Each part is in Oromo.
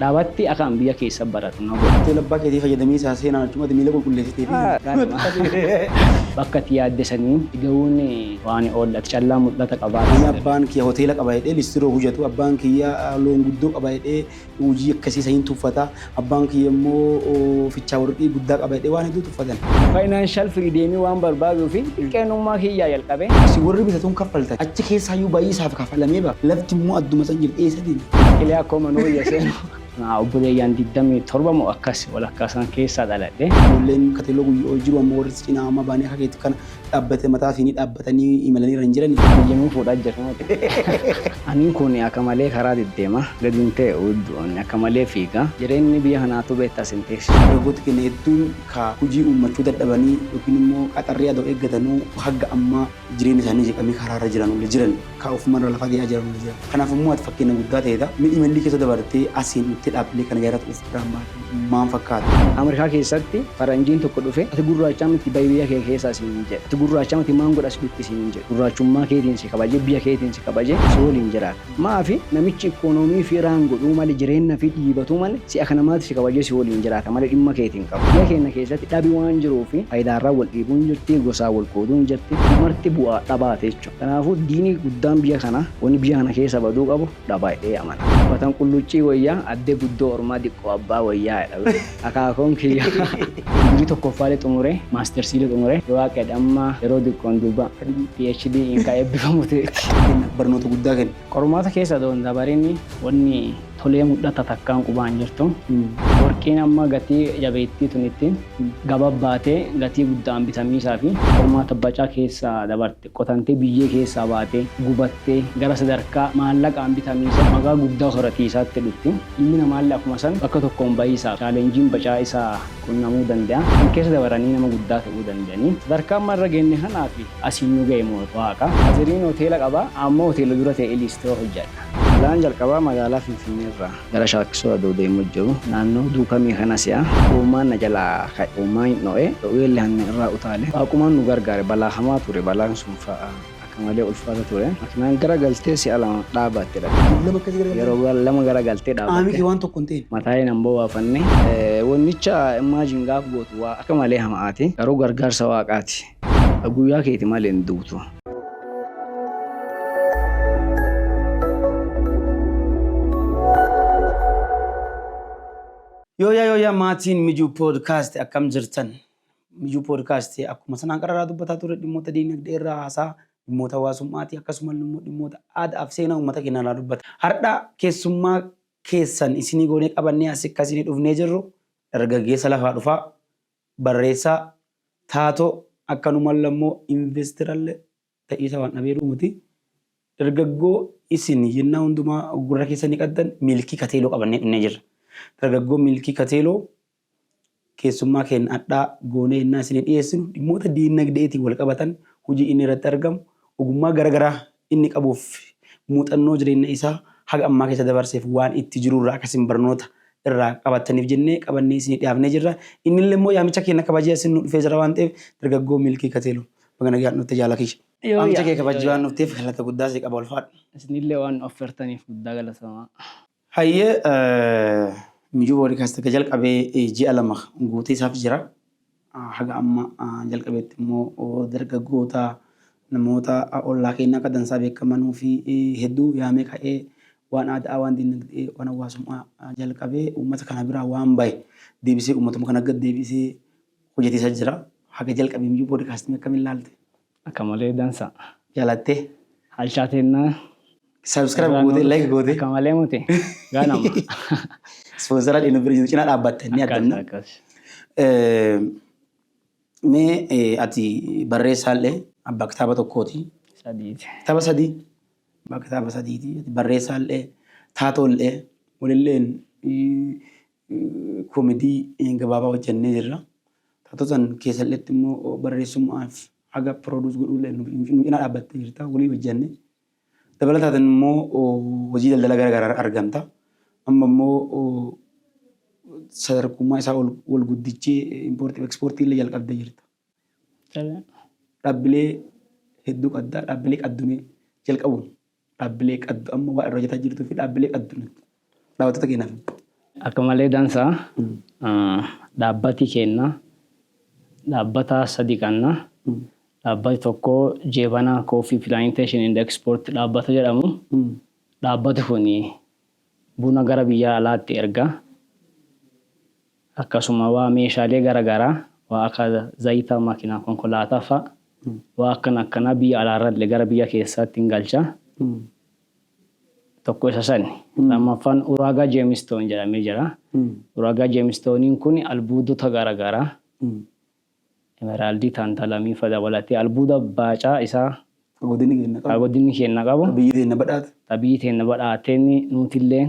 Dhaabatti akaan biyya keessa baradhu na godhi. Tola abbaa keetii fayyadamiisaa seenaan achumatti miila qulqulleessitee fi ganama. Bakka ati yaadde sanii ga'uun waan oolla ati callaa mul'ata qabaa. Ani abbaan kiyya hoteela qaba jedhee listiroo hujatu, abbaan kiyya loon guddoo qaba jedhee hujii akkasii saniin tuffata, abbaan kiyya immoo fichaa worqii guddaa qaba jedhee waan hedduu tuffatan. Financial freedom waan barbaaduu fi xiqqeenummaa kiyyaa jalqabee. Isin worri bitatuun kaffaltan achi keessaayyuu bayiisaaf kafalamee bara lafti immoo adduma san jirti eessatiin. Ilee akkoo manoo iyya seenu. Naa obboleeyyaan 27 moo akkas walakkaa sana keessaa dhaladhe. Ijoolleen kateloo guyyoo jiru amma warri cinaa amma baanii akka keetu kana dhaabbate mataa fi ni dhaabbatanii imalanii irra hin jirani. Biyya nuu fuudhaa jirra miti. Aniin kun akka malee karaa deddeema. Gadi hin tee'u iddoon akka malee fiiga. Jireenyi biyya kanaatuu beektaa sin teessu. Dargaggooti keenya hedduun ka hujii uummachuu dadhabanii yookiin immoo qaxarrii adoo eeggatanuu hagga ammaa. Jireenyi isaanii jeeqamee karaa irra jiran ol jiran. Kaa ofuma irra lafa ga'aa jiran ol jiran. Kanaaf immoo ati fakkeenya guddaa ta'eeta. Mee imallii keessa dabartee asiin dhuftee dhaabbilee kana gaheerratti of biraan baate maam fakkaata? Amerikaa keessatti faranjiin tokko dhufee ati gurraachaa miti bahi biyya kee keessaa siin jedhe. Ati gurraachaa miti maan godha as dhutti siin jedhe. Gurraachummaa keetiin si kabajee biyya keetiin si kabajee si waliin jiraata. Maafi namichi ikkonoomii fi iraan godhuu male jireenna fi dhiibatuu male si'a kana maaltu si kabajee si waliin jiraata male dhimma keeti hin qabu. Biyya keenna keessatti dhabi waan jiruu fi fayidaarraa wal dhiibuun jirti, gosaan wal qooduun jirti. Marti bu'aa dhabaa ti jechuudha. Kanaafuu diini guddaan biyya kanaa wani biyya kana keessa baduu qabu dhabaa jedhee amana. Uffatan qulluuccii woyyaa addee guddoo ormaa diqqoo abbaa woyyaa jedha. akaakoon kiyya. Digrii tokkoffaalee xumuree maastersiilee xumuree yoo Waaqeedhe amma yeroo diqqoon duuba PhD in ka eebbifamu teeti. Kenna barnoota guddaa kenna. Qormaata keessa adoo hin dabarin wanni tolee mudhata takkaan qubaa hin jirtu. Worqiin amma gatii jabeettii tunittiin gaba baatee gatii gudda'aan bitamiisaafi. Qormaata bacaa keessa dabarte. qotantee biyyee keessaa baatee, gubattee, gara sadarkaa maallaqaan bitamiisa magaa guddaa horatiisaatti dhutti. Ilmi namaalle akkuma san bakka tokkoon bayiisaaf chaalenjiin bacaa isa qunnamuu dande'a. San keessa dabaranii nama guddaa te'uu dande'anii. Sadarkaa amma irra geenne kanaa fi asiin nu gaye moo Waaqa. Aziriin hoteela qaba, ammoo hoteela dura te'ee liistiroo hojjadha. Jalaan jalqabaa magaalaa Finfinnee irraa. Gara shaakkisoo adoo deemuu jiru naannoo Duukamii kana si'a uumaan na jalaa ka'e. Uumaan hin dho'e, dhoweelle hangan irraa utaale. Waaqumaan nu gargaare. Balaa hamaa ture. Balaan sun fa'a akka malee ulfaata ture. Makinaan gara galtee si'a lama dhaabatte dhabe. Yeroo lama gara galtee dhaabatte. Mataalee nan bowaafanne. Wonnicha imagine gaaf gootu waa akka malee hama'aati. Garuu gargaarsa Waaqaati. Ka guyyaa keeti malee hin duutu. Yooyaa yooyaa maatiin Mijuu Podcast akkam jirtan? Mijuu Podcast akkuma sanaan qararaa dubbataa ture dhimmoota diinagdee irraa haasaa dhimmoota hawaasummaatii akkasumas immoo dhimmoota aadaa fi seenaa uummata keenyaa irraa dubbata. Har'a keessummaa keessan isinii goonee qabannee asi akka isinii dhufnee jirru dargaggeessa lafaa dhufaa barreessaa, taatoo, akkanumalle ammo investeralle ta'iisa waan dhabeeru miti. Dargaggoo isin yennaa hundumaa gurra keessanii qaddan Miilkii Kateeloo qabannee dhunnee jirra. Dargaggoo Miilkii Kateeloo keessummaa keenna adhaa goonee yennaa isinii dhiyeessinu dhimmoota diinnagde'eetiin wal qabatan hujii inni irratti argamu ogummaa gara garaa inni qabuuf fi muuxannoo jireenna isaa haga ammaa keessa dabarseef waan itti jiru irraa akka isin barnoota irraa qabattaniif jennee qabannee isinii dhiyaafnee jirra. Innillee immoo yaamicha keenna kabajee asin nu dhufee jira waan ta'eef dargaggoo Milkii Kateelo baga nagaan dhufte jaala kiyya. Waamicha kee kabajjee waan dhufteef galata guddaa sii qaba ulfaadhu. Isinillee waan nu affeertaniif guddaa galatoomaa. Hayye Mijuu Podcast erga jalqabee ji'a lama guutee isaaf jira. Haga amma jalqabeetti immoo dargaggoota namoota ollaa keenyaa akka dansaa beekamanuu fi hedduu yaamee ka'ee waan aadaa, waan dinagdee, waan hawaasummaa jalqabee uummata kana biraa waan bahe deebisee uummatuma kana gad deebisee hojjetiisaa jira. Haga jalqabee Mijuu Podcast akkamiin ilaalte? Akka malee dansa. Jalattee. Halchaa teennaa. Subscribe gootee like gootee. Akka malee mute. Gaanama. Ispoonsara dhinu bira jiru cinaa dhaabbatta inni Akkas addanna. akkas. Mee eh, ati barreessaallee abbaa kitaaba tokkooti. Sadiiti. Kitaaba sadii. Abbaa kitaaba sadiiti. Ati barreessaallee taatoollee walilleen eh, eh, koomedii eh, gabaabaa hojjennee jirra. Taatoo san keessalleetti immoo barreessummaaf haga produce godhullee nu cinaa dhaabbattee jirta. Waliin hojjanne. Dabalataatiin immoo hojii daldala gara garaa argamta. Amma immoo sadarkummaa isaa ol wal guddichee impoortii fi ekspoortii illee jalqabdee jirta. Dhaabbilee hedduu qabda. Dhaabbilee qaddumee jalqabuun Dhaabbilee qaddu amma waan irra hojjetaa jirtuu fi dhaabbilee qaddu nutti dhaabbattoota keenyaaf himi. Akka malee dansa dhaabbati keenna dhaabbata sadi qanna. Dhaabbati tokko Jeebana Coffee Plantation and Export dhaabbata jedhamu. Dhaabbati kun buna gara biyyaa alaatti erga, akkasuma waa meeshaalee gara garaa waa akka zayita makinaa konkolaataa fa'a waa akkana akkanaa biyya alaarralle gara biyya keessaatti hin galcha. Tokko isa sani. Lammaffaan uraagaa jeemistoon jedhamee jira. Uraagaa jeemistooniin kun albuudota gara garaa Emeraldii, Tantalamii fa dabalatee albuuda baacaa isaa ka godinni keenna ka qabu, godinni keenna qabu, ka biyyi teenna badhaate. ta biyyi teenna badhaateen nuutilleen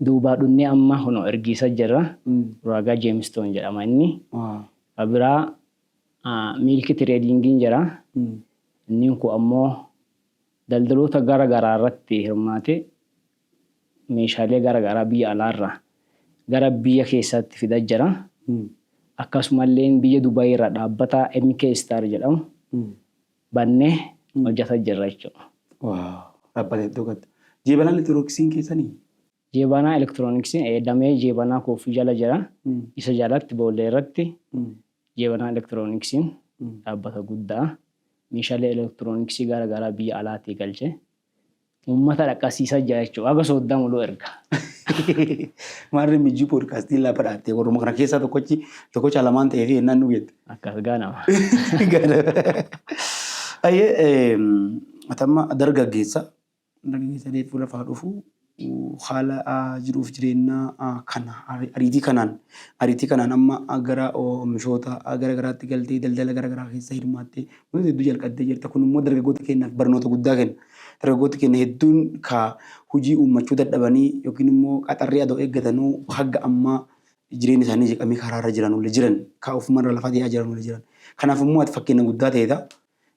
duubaa dhunnee amma kunoo ergiisa jirra. Uraagaa Jeemistoon jedhama inni. Ka biraa miilki tireediingiin jira. Inniin kun ammoo daldaloota gara garaa irratti hirmaatee meeshaalee gara garaa biyya alaa irraa gara biyya keessaatti fidaa jira. Akkasuma illee biyya Dubai irraa dhaabbata MK Star jedhamu bannee hojjata jirra jechuudha. Waaw dhaabbata iddoo gatta. Jeebanaan elektirooniksiin keessanii? Jeebanaa elektirooniksiin ee damee jeebanaa kooffii jala jira. Isa jalatti boollee irratti jeebanaa elektirooniksiin dhaabbata guddaa meeshaalee elektirooniksii gara garaa biyya alaatii galche. Ummata dhaqqasiisa jira jechuudha. Haga sooddaa muluu erga. Maarree mijjii poodkaastii lafa dhaattee warruma kana keessaa tokkochi tokkocha lamaan ta'ee fi hennaan nu jette. Akkas gaanama. Ayyee atamma dargaggeessa dargaggeessa deeffuu lafaa dhufuu haala jiruuf jireennaa kan ariitii kanaan ariitii kanaan amma gara oomishoota gara garaatti galtee daldala gara garaa keessa hirmaattee wantoota hedduu jalqabdee jirta. Kun immoo dargaggoota keenyaaf barnoota guddaa kenna. Dargaggoota keenya hedduun ka hojii uummachuu dadhabanii yookiin immoo qaxarrii adoo eeggatanuu hagga ammaa jireenya isaanii jeeqamee karaarra jiranullee jiran. Ka ofumarra lafa dee'aa jiranullee jiran. Kanaaf immoo ati fakkeenna guddaa teeta.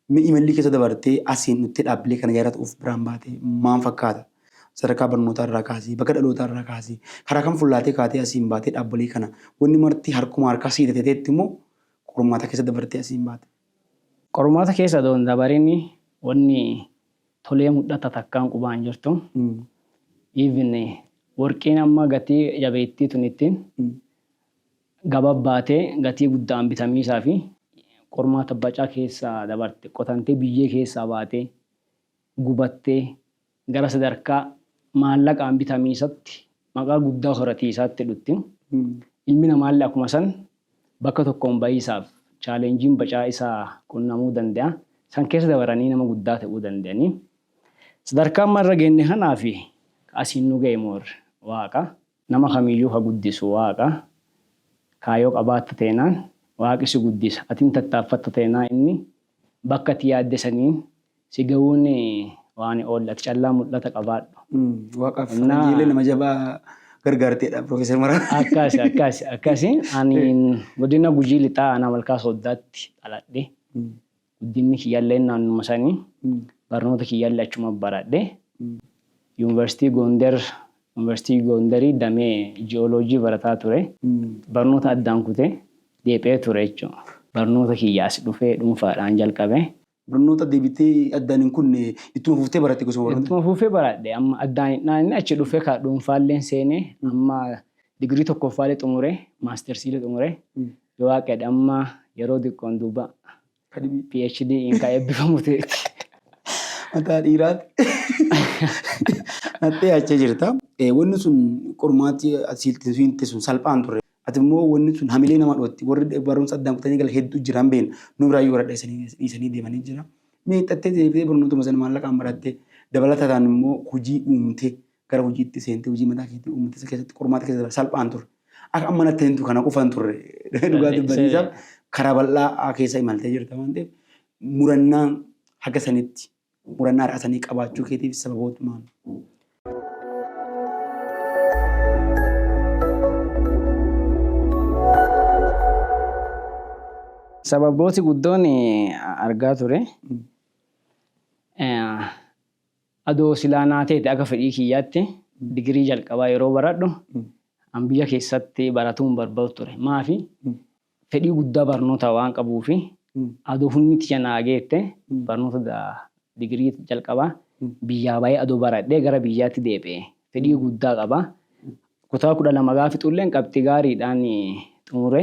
Mee imallii keessa dabartee asiin dhuftee dhaabbilee kana yaadatu of biraan baatee maan fakkaata? Sadarkaa barnootaa irraa kaasii, bakka dhalootaa irraa kaasii, karaa kam fullaatee kaatee asiin baatee dhaabbilee kana wanni marti harkuma harkaa sii tateeteetti immoo qormaata keessa dabartee asiin baate. Qormaata keessa doon dabarin wanni tolee mudhatta takkaan qubaan jirtu. Even warqiin amma gatii jabeettii tunittiin gababbaatee gatii gudda'aan bitamiisaa fi qormaata bacaa keessa dabarte qotantee biyyee keessaa baatee gubattee gara sadarkaa maallaqaan bitamiisatti maqaa guddaa horatiisaatti dhutti. Ilmi namaalle akkuma san bakka tokkoon bayiisaaf challenge-n bacaa isa qunnamuu dande'a. San keessa dabaranii nama guddaa te'uu dande'anii. Sadarkaa amma irra geenne kanaa fi ka asiin nu gaye more Waaqa. Nama kamiyyuu ka guddisu Waaqa. Kaayoo qabaatta teenaan Waaqi si guddisa. Atin tattaaffatta teenaan inni bakka ati yaadde saniin si gawuun waan oolle. Ati callaa mul'ata qabaadhu. Waaqaaf faranjiilee nama jabaa gargaarteedha Professor Mararaa. Akkasi akkasi akkasi ani godina Gujii Lixaa aanaa Malkaa Sooddaatti dhaladhe. Guddinni kiyyalleen naannuma sani. Barnoota kiyyallee achuma baradhe. Yuunivarsiitii Goonder, Yuunivarsiitii Goondarii damee Ji'ooloojii barataa ture. Barnoota addaan kute, deebi'ee ture jechuudha. Barnoota kiyya as dhufee dhuunfaadhaan jalqabe. Barnoota deebitee addaan hin kunne ittuma fuftee baratte gosuma barnoota? Ittuma fufee baradhe. Amma addaan hin dhaanne achi dhufee ka dhuunfaalleen seene amma digirii tokkoffaallee xumure, maastersiillee xumure. Du'aa qeed amma yeroo diqqoon duuba Kadhibii. PhD in ka eebbifamu ta'eeti. Mataa dhiiraatti nattee achee jirta. Eh, Wanni sun qormaatti asiilti fiinte sun salphaan turre. Ati immoo wanni sun hamilee nama dhootti. Warri barumsa addaan kutanii gala hedduu jiran beekna. Nu biraa yoo warra dhiisanii dhiisanii deemanii jira. Mee xattee deebitee barnootuma sana maallaqaan barattee dabalataadhaan immoo hojii uumtee gara hojiitti seentee hojii mataa keetii uummata isa keessatti qormaata keessa darbe salphaan ture. Akka amma natti himtu kana qofa hin turre dhugaa dubbatiisaaf karaa bal'aa keessa imaltee jirta waan ta'eef murannaan haga sanitti murannaa har'a sanii qabaachuu keetiif sababoota maal? Sababooti guddoon argaa ture. Adoo silaa naa teete akka fedhii kiyyaatti digirii jalqabaa yeroo baradhu an biyya keessatti baratuu hin barbadu ture. Maafi? Fedhii guddaa barnootaa waan qabuufi. Adoo humni tiyya naa geette barnoota digirii jalqabaa biyyaa bahee adoo baradhee gara biyyaatti deebi'e. Fedhii guddaa qaba. Kutaa 12 gaafa fixulleen qabxii gaariidhaan xumure.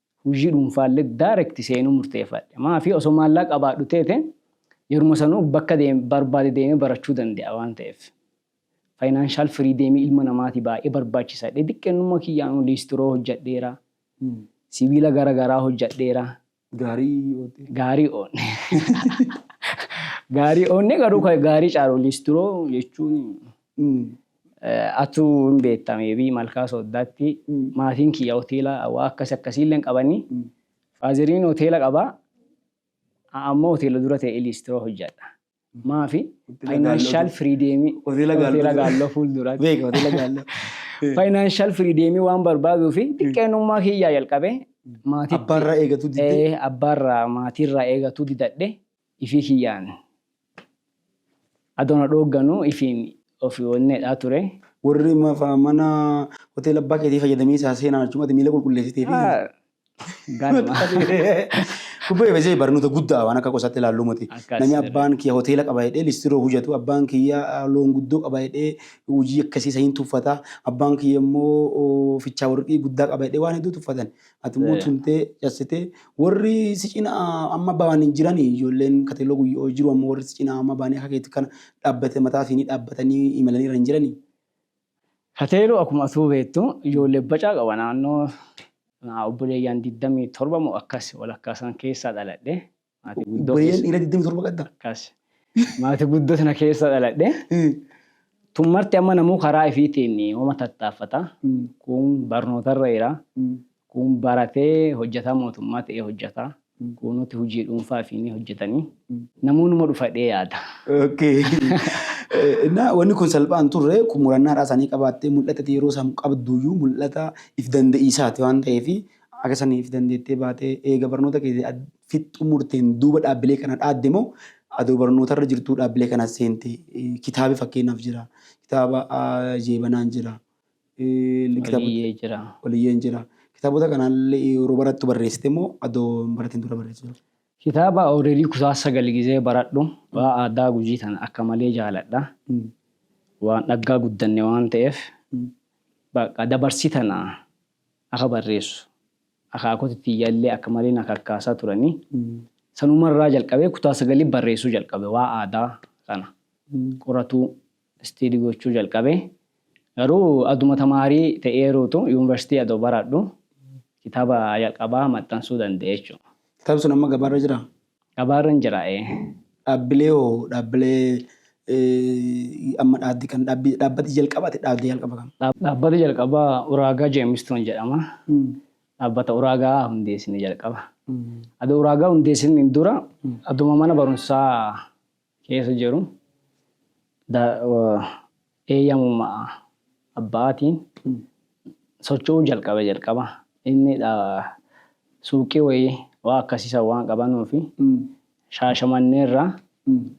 hujii dhuunfaalle direct seenuu murteeffadhe. Maafi osoo maallaaqa qabaadhu teete yeruma sanuu bakka deeme barbaade deemee barachuu dande'a waan ta'eef. Financial freedom ilma namaati baay'ee barbaachisa jedhee diqqeennumma kiyyaanuu liistiroo hojjadheera. Sibiila gara garaa hojjadheera. Gaarii oodheera. Gaarii oodhe. Gaarii oodne garuu ka gaarii caalu liistiroo jechuun Atuu hin beetta may be Malkaa Sooddaatti maatiin kiyya hoteela waa akkasi akkasiilleen qabani. Faazeriin hoteela qaba. An ammoo hoteela dura ta'ee liistroo hojjadha. Maafi? Hoteela Gaalloo Faayinaanshaal dura. firiideemii Hoteela Gaalloo hoteela dura. gaalloo fuulduratti. Beeka hoteela gaalloo. Faayinaanshaal firiideemii waan barbaaduu fi xiqqeenummaa kiyyaa jalqabee maatiitti Abbaarraa eegatuu diddee? Eh, abbaarraa maatiirraa eegatuu didadhe. Ifii kiyyaan adoo na dhoogganu ifiin ofi onneedhaa ture. Warri mafa mana hoteela abbaa keetii fayyadamiisaa seenaan achumatti miila qulqulleessiteefii? Ganuma. Kubbee fesee barnoota guddaa waan akka qosaatti ilaalluu moti. Akkas. Nami abbaan kiyya hoteela qaba jedhee listiroo hojjatu, abbaan kiyya loon guddoo qaba jedhee hojii akkasii isa hin tuffata, abbaan kiyya immoo fichaa warqii guddaa qaba jedhee waan hedduu tuffatan. Ati immoo tumtee cassitee warri si cina amma ba'an hin jirani ijoolleen kateloo guyyoo jiru amma warri si cina amma ba'anii akka keetti kana dhaabbate mataa fi ni dhaabbatanii imalanii irra hin jirani. Kateeloo akkuma atuu beektu ijoollee bacaa qaba naannoo obboleeyyaan 27 moo akkas walakkaa san keessaa dhaladhe. Maatii guddoo Obboleeyyan keessa. dhiira 27 qabda. Akkas. Maatii guddoo sana keessa dhaladhe. Mm. Tun marti amma namuu karaa ifiitiin homa tattaaffata. Mm. Kun barnootarra jira. Mm. Kun baratee hojjetaa mootummaa ta'ee hojjeta. Mm. Kuunuti hojii dhuunfaa ifiinii hojjetanii. Mm. Namuu numa dhufadhee yaada. Okay. Eh, Innaa wanni kun salphaa hin turre kun murannaadhaa isaanii qabaattee mul'ata yeroo isaan qabduyyuu mul'ata if danda'iisaati waan ta'eef Haga saniif dandeettee baatee eega barnoota keetii ad fixxumurteen duuba dhaabbilee kana dhaadde moo adoo barnootarra jirtuu dhaabbilee kana seente? Kitaabi fakkeenyaaf jira. Kitaaba Jeebanaan jira. Oliyyee jira. Oliyyeen jira. Kitaabota kanaallee yeroo barattu barreessite moo adoo hin baratin dura barreessite? Kitaaba Awureelii kutaa sagal gizee baradhu waan aadaa Gujii tana akka malee jaaladha. Waan dhaggaa guddanne waan ta'eef baqqa dabarsii tana akka barreessu akaakoti tiyya illee akka malee na kakkaasaa turani. Sanuma irraa jalqabee kutaa sagalii barreessuu jalqabe waa aadaa kana qoratuu istiidi gochuu jalqabe. Garuu aduma tamaarii ta'ee ruutu yuunivarsiitii adoo baraadhu kitaaba jalqabaa maxxansuu danda'e jechuudha. Kitaabni sun amma gabaarra jiraa? Dhabaarran jira ee. Dhaabbilee hoo dhaabbilee amma dhaabdi kan dhaabbi dhaabbati jalqaba ati dhaabde jalqaba kam? Dhaabbata jalqaba Uraagaa Jeemistoon jedhama. Dhaabbata Uraagaa hundeessine jalqaba. Adoo Uraagaa hundeessiniin dura aduma mana barumsaa keessa jiru eeyyamuma abbaatiin socho'uu jalqabe jalqaba. Inni suuqii wayii waa akkasii san waan qabanuu fi shaashamannee irraa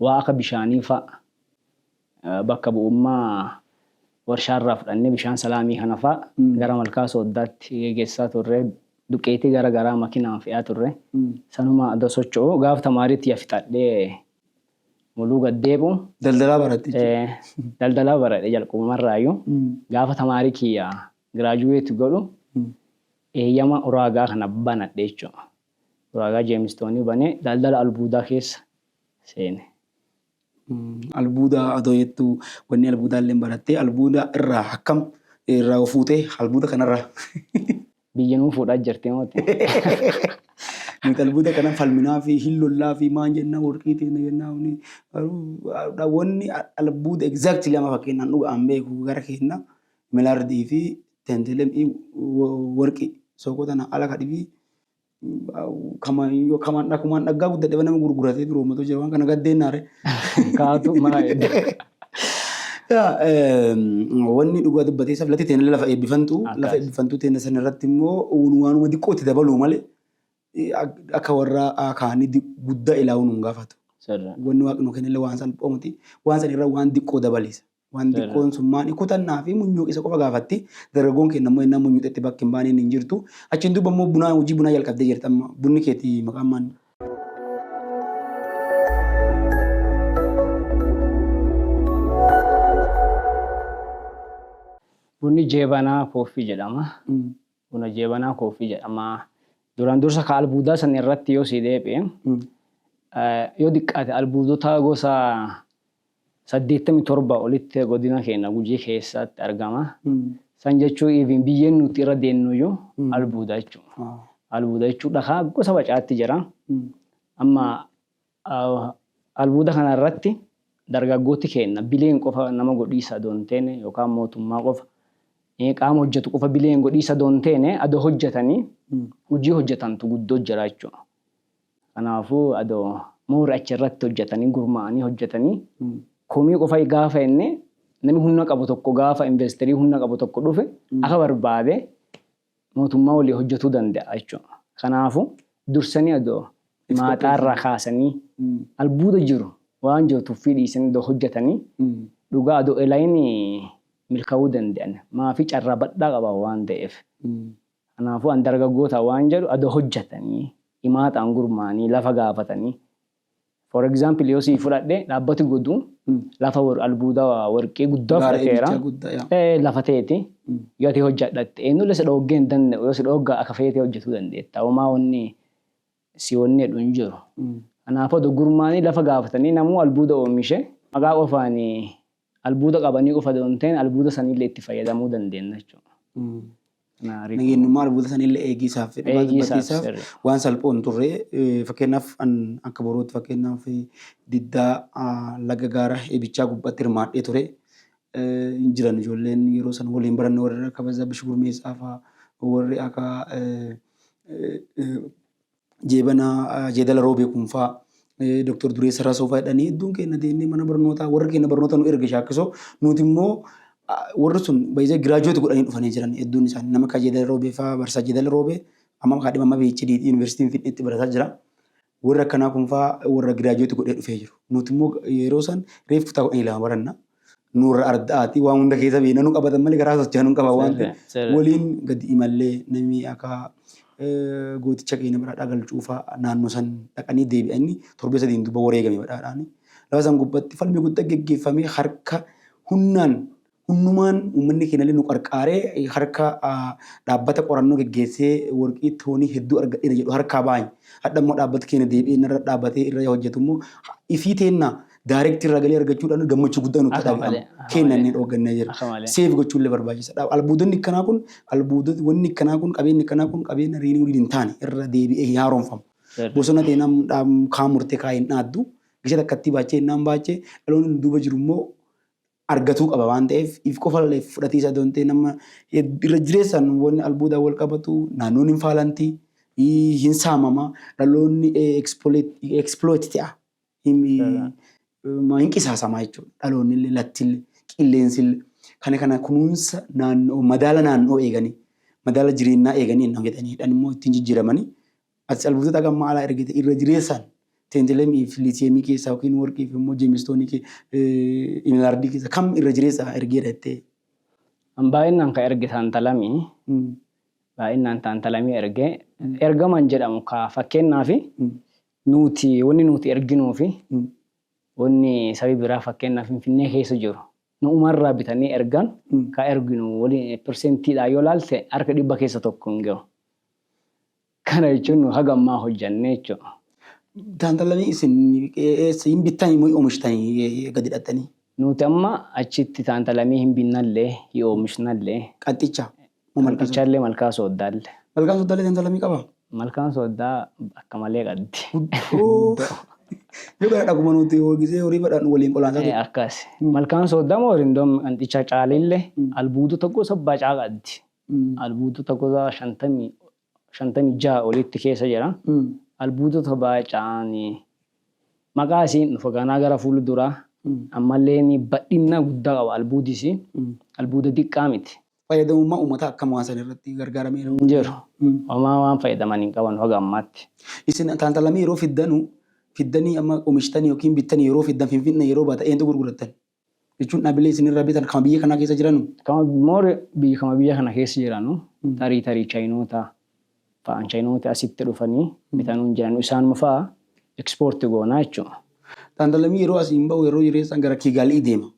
waa akka bishaanii fa'a bakka bu'ummaa Warshaa irraa fudhannee bishaan salaamii kana faa gara malkaa sooddaatti gegessaa turre. Duqeetii gara garaa makinaan fe'aa turre. Sanuma adoo socho'uu gaaf tamaarii tiyya fixadhee muluu gad deebi'u. Daldalaa baratte jechuudha. Ee, daldalaa baradhe jalqabumarraayyuu. Gaafa tamaarii kiyya giraajuweeti godhu eeyyama uraagaa kana banadhe jechuudha. Uraagaa jeemistoonii banee daldala albuudaa keessa seene. Albuuda adoo jettuu wanni albuudaalleen barattee albuuda irraa hakkam irraa fuutee albuuda kanarraa. Biyya nuu fuudhaa jirti mooti. Nuti albuuda kana falminaa fi hin lollaa fi maan jennaa warqii teena jennaa huni wanni albuuda exactly lama fakkeenyaan dhuga'aan beeku gara keenna milaardii fi tentelemii warqii sookoo tana ala kadhibii kaman yoo kaman dhakumaan dhaggaa guddadhe nama gurguratee biroo moto jira waan kana gaddeennaare kaatu maayedha. Wanni dhugaa dubbatee isaaf latti teena lafa eebbifantu lafa eebbifantu teena san irratti immoo waanuma xiqqoo itti dabaluu malee akka warra kaanii guddaa ilaawuu nu hin gaafatu. Wanni waaqni nu kennellee waan salphoo miti waan san irra waan xiqqoo dabaleessa. Waan xiqqoon sun maali? Kutannaa fi munyuuqisa qofa gaafatti. Dargaggoon keenya ammoo ennaa munyuuxetti bakki hin baaneen hin jirtu. Achiin duuba ammoo bunaa hojii bunaa jalqabdee jirta amma. Bunni keeti maqaan maanni? Bunni jeebanaa kooffii jedhama. Buna jeebanaa kooffii jedhama. Duraan dursa ka albuudaa san irratti yoo sii deebi'e yoo diqqaate albuudota gosa 87 olitti godina keenna Gujii keessaatti argama. San jechuun even biyyeen nuti irra deemnuyyuu albuuda jechuudha. Albuuda jechuun dhakaa gosa bacaatti jira. Amma albuuda kana irratti dargaggooti keenna bileen qofa nama godhiisa adoo hin teene yookaan mootummaa qofa qaama hojjetu qofa bileen godhiisa adoo hin teene adoo hojjetanii hojii hojjetantu guddoo jira jechuudha. Kanaafuu adoo more achi irratti hojjatanii gurmaa'anii hojjatanii komii qofa gaafa jenne nami humna qabu tokko gaafa investerii humna qabu tokko dhufe akka barbaade mootummaa walii hojjatuu danda'a jechuudha. Kanaafuu dursanii adoo maaxaa irraa kaasanii albuuda jiru waan jiru tuffii dhiisanii adoo hojjatanii dhugaa adoo elayin milka'uu danda'an maafii carraa badhaa qaban waan ta'eef Kanaafuu an dargaggoota waan jedhu adoo hojjatanii, himaataan gurmaanii, lafa gaafatanii for example yoo sii fudhadhe dhaabbati godu lafa wor albuuda worqii guddaa Gaara fudhateera. eegichaa guddaa yaa. Ee, lafa teeti Mm. yoo ati hojjadhatte eenyullee si dhooggee hin danda'u yoo si dhooggaa akka feetee hojjetuu dandeetta homaa wanni si wanni jedhu hin jiru. Kanaaf odo gurmaanii lafa gaafatanii namuu albuuda oomishe maqaa qofaan albuuda qabanii qofa odo hin ta'in albuuda sanillee itti fayyadamuu dandeenna jechuudha. Nageenyummaa albuuda sanillee eegii isaaf fi dhugaa dubbatii isaaf waan salphoo hin turre fakkeenyaaf akka boruutti fakkeenyaaf diddaa laga gaara eebichaa gubbatti hirmaadhee ture. hin jiran ijoolleen yeroo san waliin baranne warri akka Bazzaa Bish Gurmeessaa faa warri akka Jeebanaa Jeedala Roobee kun faa Dooktar Dureessa Rasoo faa jedhanii hedduun keenya deemnee mana barnootaa warri keenya barnoota nu erge shaakkisoo nuti immoo warri sun baay'ee giraajuweeti godhanii dhufanii jiran hedduun isaanii nama akka Jeedala Roobee faa Barsaa Jeedala Roobee amma kaadhima amma PhD yuunivarsiitiin Finfinneetti barataa jira. Warri akkanaa kun fa'aa warra giraajuweeti godhee dhufee jiru. Nuti immoo yeroo san reef kutaa kudhanii lama baranna. Nurra arda'aati waan hunda keessa beekna nu qabatan malee garaa socho'an nu qaban waan ta'eef Sirri, sirri. waliin gadi imallee namni akka eh, gooticha keenya badhaadhaa galchuu fa'aa naannoo san dhaqanii deebi'anii torbee sadiin duuba wareegame badhaadhaan. Lafa san gubbatti falmi guddaa geggeeffamee harka humnaan Hundumaan uummanni keenyallee nu qarqaaree harka dhaabbata qorannoo geggeessee worqii toonii hedduu argadheera jedhu harkaa baany. Hadha immoo dhaabbati keenya deebi'ee narra dhaabatee irra hojjetu immoo ifii teenna direct irraa galii argachuudhaan gammachuu guddaa nutti Akka malee, dhaga'ama. akka Keenya malee. inni dhooggannee jira. Akka malee. Seef gochuullee barbaachisaadha. Albuudonni akkanaa kun albuudota wanni akkanaa kun qabeenyi akkanaa kun qabeenya riinii waliin hin taane irra deebi'ee hin haaromfamu. Sirri. Bosona teenaa dhaam- kaan murtee kaa hin dhaaddu. Gisa takkattii baachee hin dhaambaache. Dhaloonni nu duuba jiru immoo argatuu qaba waan ta'eef if qofalleef fudhatiisa adoo hin ta'in amma irra jireessaan wanni albuudaan wal qabatu naannoon hin faalanti hin saamama dhaloonni exploit ta'a hin qisaasama jechuudha dhaloonni illee latti illee qilleensi illee kana kana kunuunsa naannoo madaala naannoo eeganii madaala jireenyaa eeganii hin hojjetanii dhan immoo ittiin jijjiiramanii Ati calbuutoota haga ammaa alaa ergite irra jireessaan teentelemii fi liitiyeemii keessaa yookiin worqii fi immoo jeemistoonii ke- eh, imeeraardii keessaa kam irra jireessaa ergeera jettee? An baay'inaan ka erge taantalamii, Mm. baay'inaan taantalamii erge. Ergamaan jedhamu ka fakkeenyaaf Mm. nuti wanni nuti erginuu fi Mm. wanni sabi biraa fakkeenyaaf Finfinnee keessa jiru nu'umarraa bitanii ergan Mm. ka erginu waliin pirseentiidhaan yoo laalte harka dhibba keessa tokko hin gahu. Kana jechuun nu haga ammaa hojjannee jechuudha. Daandalanii isin eessa hin bittanii moo omishtanii gadi dhaxxanii? Nuti amma achitti taantalamii hin binnallee, hin oomishnallee. Qanxicha moo malkaa sooddaa? Qanxichallee malkaa sooddaalle. Malkaan sooddaallee taantalamii qabaa? Malkaan sooddaa akka malee qabdi. Guddoo. Yoo gara dhaguma nuti hoogisee horii badhaan waliin qolaansaa ture. Akkas. Malkaan sooddaa moo rindoon qanxichaa caalillee albuudota gosa bacaa qabdi. albuudota gosa 56 oliitti keessa jira. Albuudota baaca'aan maqaa isiin dhufa ganaa gara fuula duraa ammalleen badhinna guddaa qaba albuudi isii albuuda diqqaa miti. Fayyadamummaa uummataa akkam waan san irratti gargaarameera? Hin jiru. Homaa waan fayyadaman hin qabanu haga ammaatti. Isin taantalamii yeroo fiddanu fiddanii amma omishtanii yookiin bittanii yeroo fiddan finfinna yeroo baatan eentu gurgurattan? jechuun dhaabbilee isin irraa bitan kama biyya kanaa keessa jiranu? Kama more biyya kama biyya kana keessa jiranu tarii tarii chaayinoota fa'aan chaayinooti asitti dhufanii bitanuun jiranu isaanuma fa'a ekspoorti goonaa jechuudha. Xaandalamii yeroo asiin ba'u yeroo jireessaan gara Kiigaalii deema.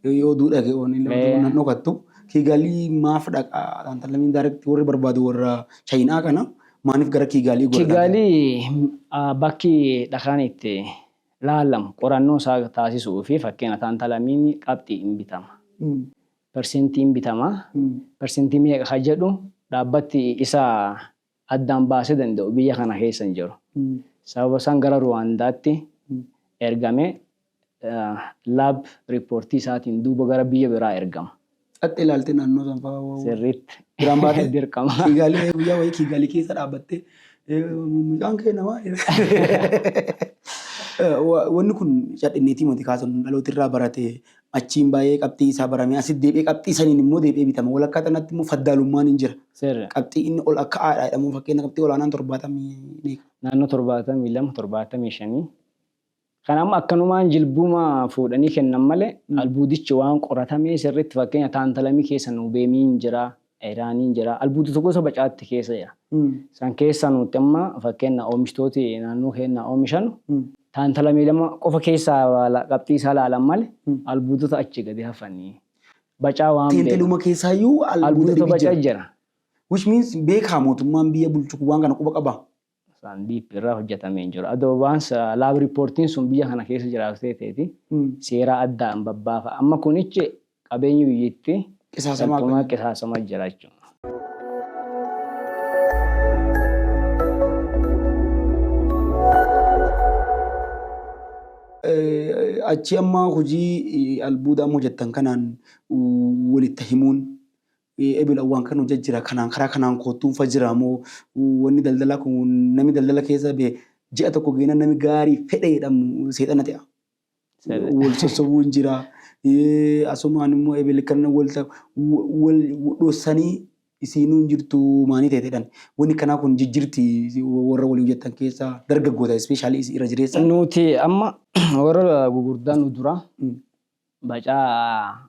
Yoo oduu dhage oonee Ee. nan dhokattu Kiigaalii maaf dhaqa xaandalamiin daarekti warri barbaadu warra chaayinaa kana maaniif gara Kiigaalii godha? Kiigaalii ah, bakki dhakaan itti Laalam qorannoo isaa taasisu'uu fi fakkeena taantalamiini qabxii in bitama. Persentii in bitama. Persentii meeqa ka jedhu dhaabbatti isa addaan baasee danda'u biyya kana keessa hin jiru. Sababa isaan gara Ruwaandaatti ergame laab riippoortii isaatiin duuba gara biyya biraa ergama. Xaxxe ilaaltee naannoo san fa'aa waa- Sirriitti. biraan baatee Dirqama. Kiigaalii guyyaa wayii kiigaalii keessa dhaabbattee eh, mucaan kee namaa Eh, wa- wanni kun cadhinneetii moti kaasan dhalooti irraa barate achiin baay'ee qabxii isaa barame asit deebi'ee qabxii saniin immoo deebi'ee bitama walakkaa tanatti immoo faddaalummaan hin jira Sirra. qabxii inni ol akka aadhaa jedhamu fakkeenya qabxii olaanaan torbaatamii meeqa Naannoo torbaatamii lama torbaatamii shanii Kan amma akkanumaan jilbuma fuudhanii kennan malee albuudichi waan qoratamee sirriitti fakkeenya taantalamii keessa nuubeemiin jira, ayiraaniin jira, albuudota gosa bacaatti keessa jira. San keessaa nuutti amma fakkeenna oomishtooti naannoo keennaa oomishanu taantalamii lama qofa keessaa qabxii isaa laalan malee albuudota achi gadi hafanii bacaa waan beekan. Teenteluma keessaayyuu albuuda dhibi jira. Albuudota baca jira. Which means beekaa mootummaan biyya bulchu waan kana quba qabaa? Isaan deep irraa hojjetamee hin jiru. Adoo waan sa- lab reportiin sun biyya kana keessa jiraatu teeteeti Mm. seeraa addaa hin babbaafa. Amma kunichi qabeenyi biyyitti Qisaasamaa salphumaa kan- qisaasamaa jira jechuudha. Eh, achi amma hojii eh, albuudaa amma hojjettan kanaan uh, walitti himuun ee ebel awwaan kan hojja jira kanaan karaa kanaan koottuun fa jira moo wanni daldalaa kun nami daldala keessa be ji'a tokko geena nami gaarii fedha jedhamu seexana te'a. Wal sossobuun jira asumaan immoo ebel kan walta wal dhossanii isiinuu hin jirtu maanii teetedhan wanni kanaa kun jijjirti warra walii hojjettan keessa dargaggoota ispeeshaalii irra jireessa. Nuti amma warra gugurdaa nu dura bacaa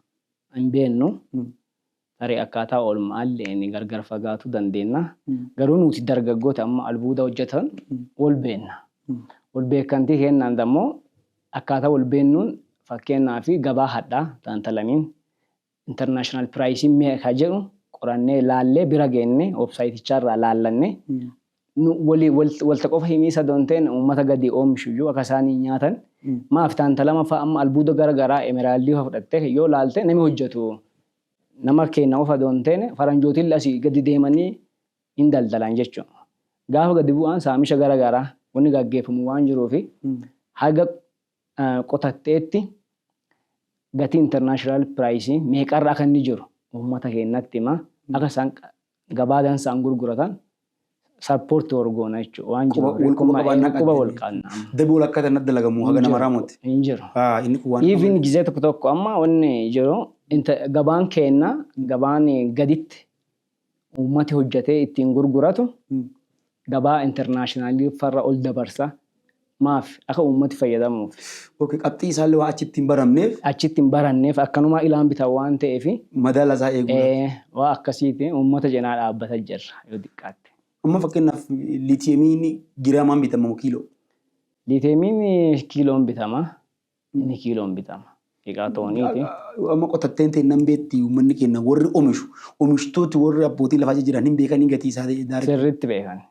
hin beennu tarii akkaataa oolmaalleen gargar fagaatuu dandeenna garuu nuuti dargaggooti amma albuuda hojjatan wol beenna wol beekkantii keennaan dammo akkaataa wol beennuun fakkeenaa fi gabaa hadhaa taantalaniin international price meeqa jedhu qorannee laallee bira geenne website chaarraa laallanne Nu wali wal walta qofa himii sado hin ta'in ummata gadi oomishu iyyuu akka isaan hin nyaatan maaf taantalama fa'a amma albuuda gara garaa emeraldii fa'a fudhattee yoo laalte nami hojjatu nama keenna qofa do hin ta'in faranjootillee asii gadi deemanii hin daldalan jechu gaafa gadi bu'aan saamisha gara garaa wanni gaggeeffamu waan jiruu fi haga qotatteetti gatii international price meeqarra akka inni jiru ummata keennatti hima akka isaan gabaa dansaan gurguratan support war goona jechuudha. Waan jiru Quba- wal quba qabaan naqatte. quba wal qaanna amma. Dabii wal akkaataa natti dalagamu haga nama raamutti. Hin jiru. Haa, inni kun waan Even gizee tokko tokko amma wanni jiru inta- gabaan keenna gabaan gaditti uummati hojjetee ittiin gurguratu Mm. gabaa internationally farra ol dabarsa maaf aka ummati fayyadamuufi. Ok qabxii isaalle waan achitti hin baramneef. achitti hin baranneef akkanumaa ilaan bitan waan ta'eefi. madaala isaa eeguu irratti. ee waan akkasiitiin ummata cinaa dhaabbata jirra yoo diqqaatte. Amma fakkeenyaaf liitiyemiin giraamaan bitama moo kiiloo? Liitiyemiin kiiloon bitama. Inni kiiloon bitama. Dhiqaa tooniiti. Amma qotatteen teennan beetti uummanni keenya warri omishu omishtooti warri abbootii lafaa jiran hin beekanii gatii isaa daarii. Sirriitti beekan.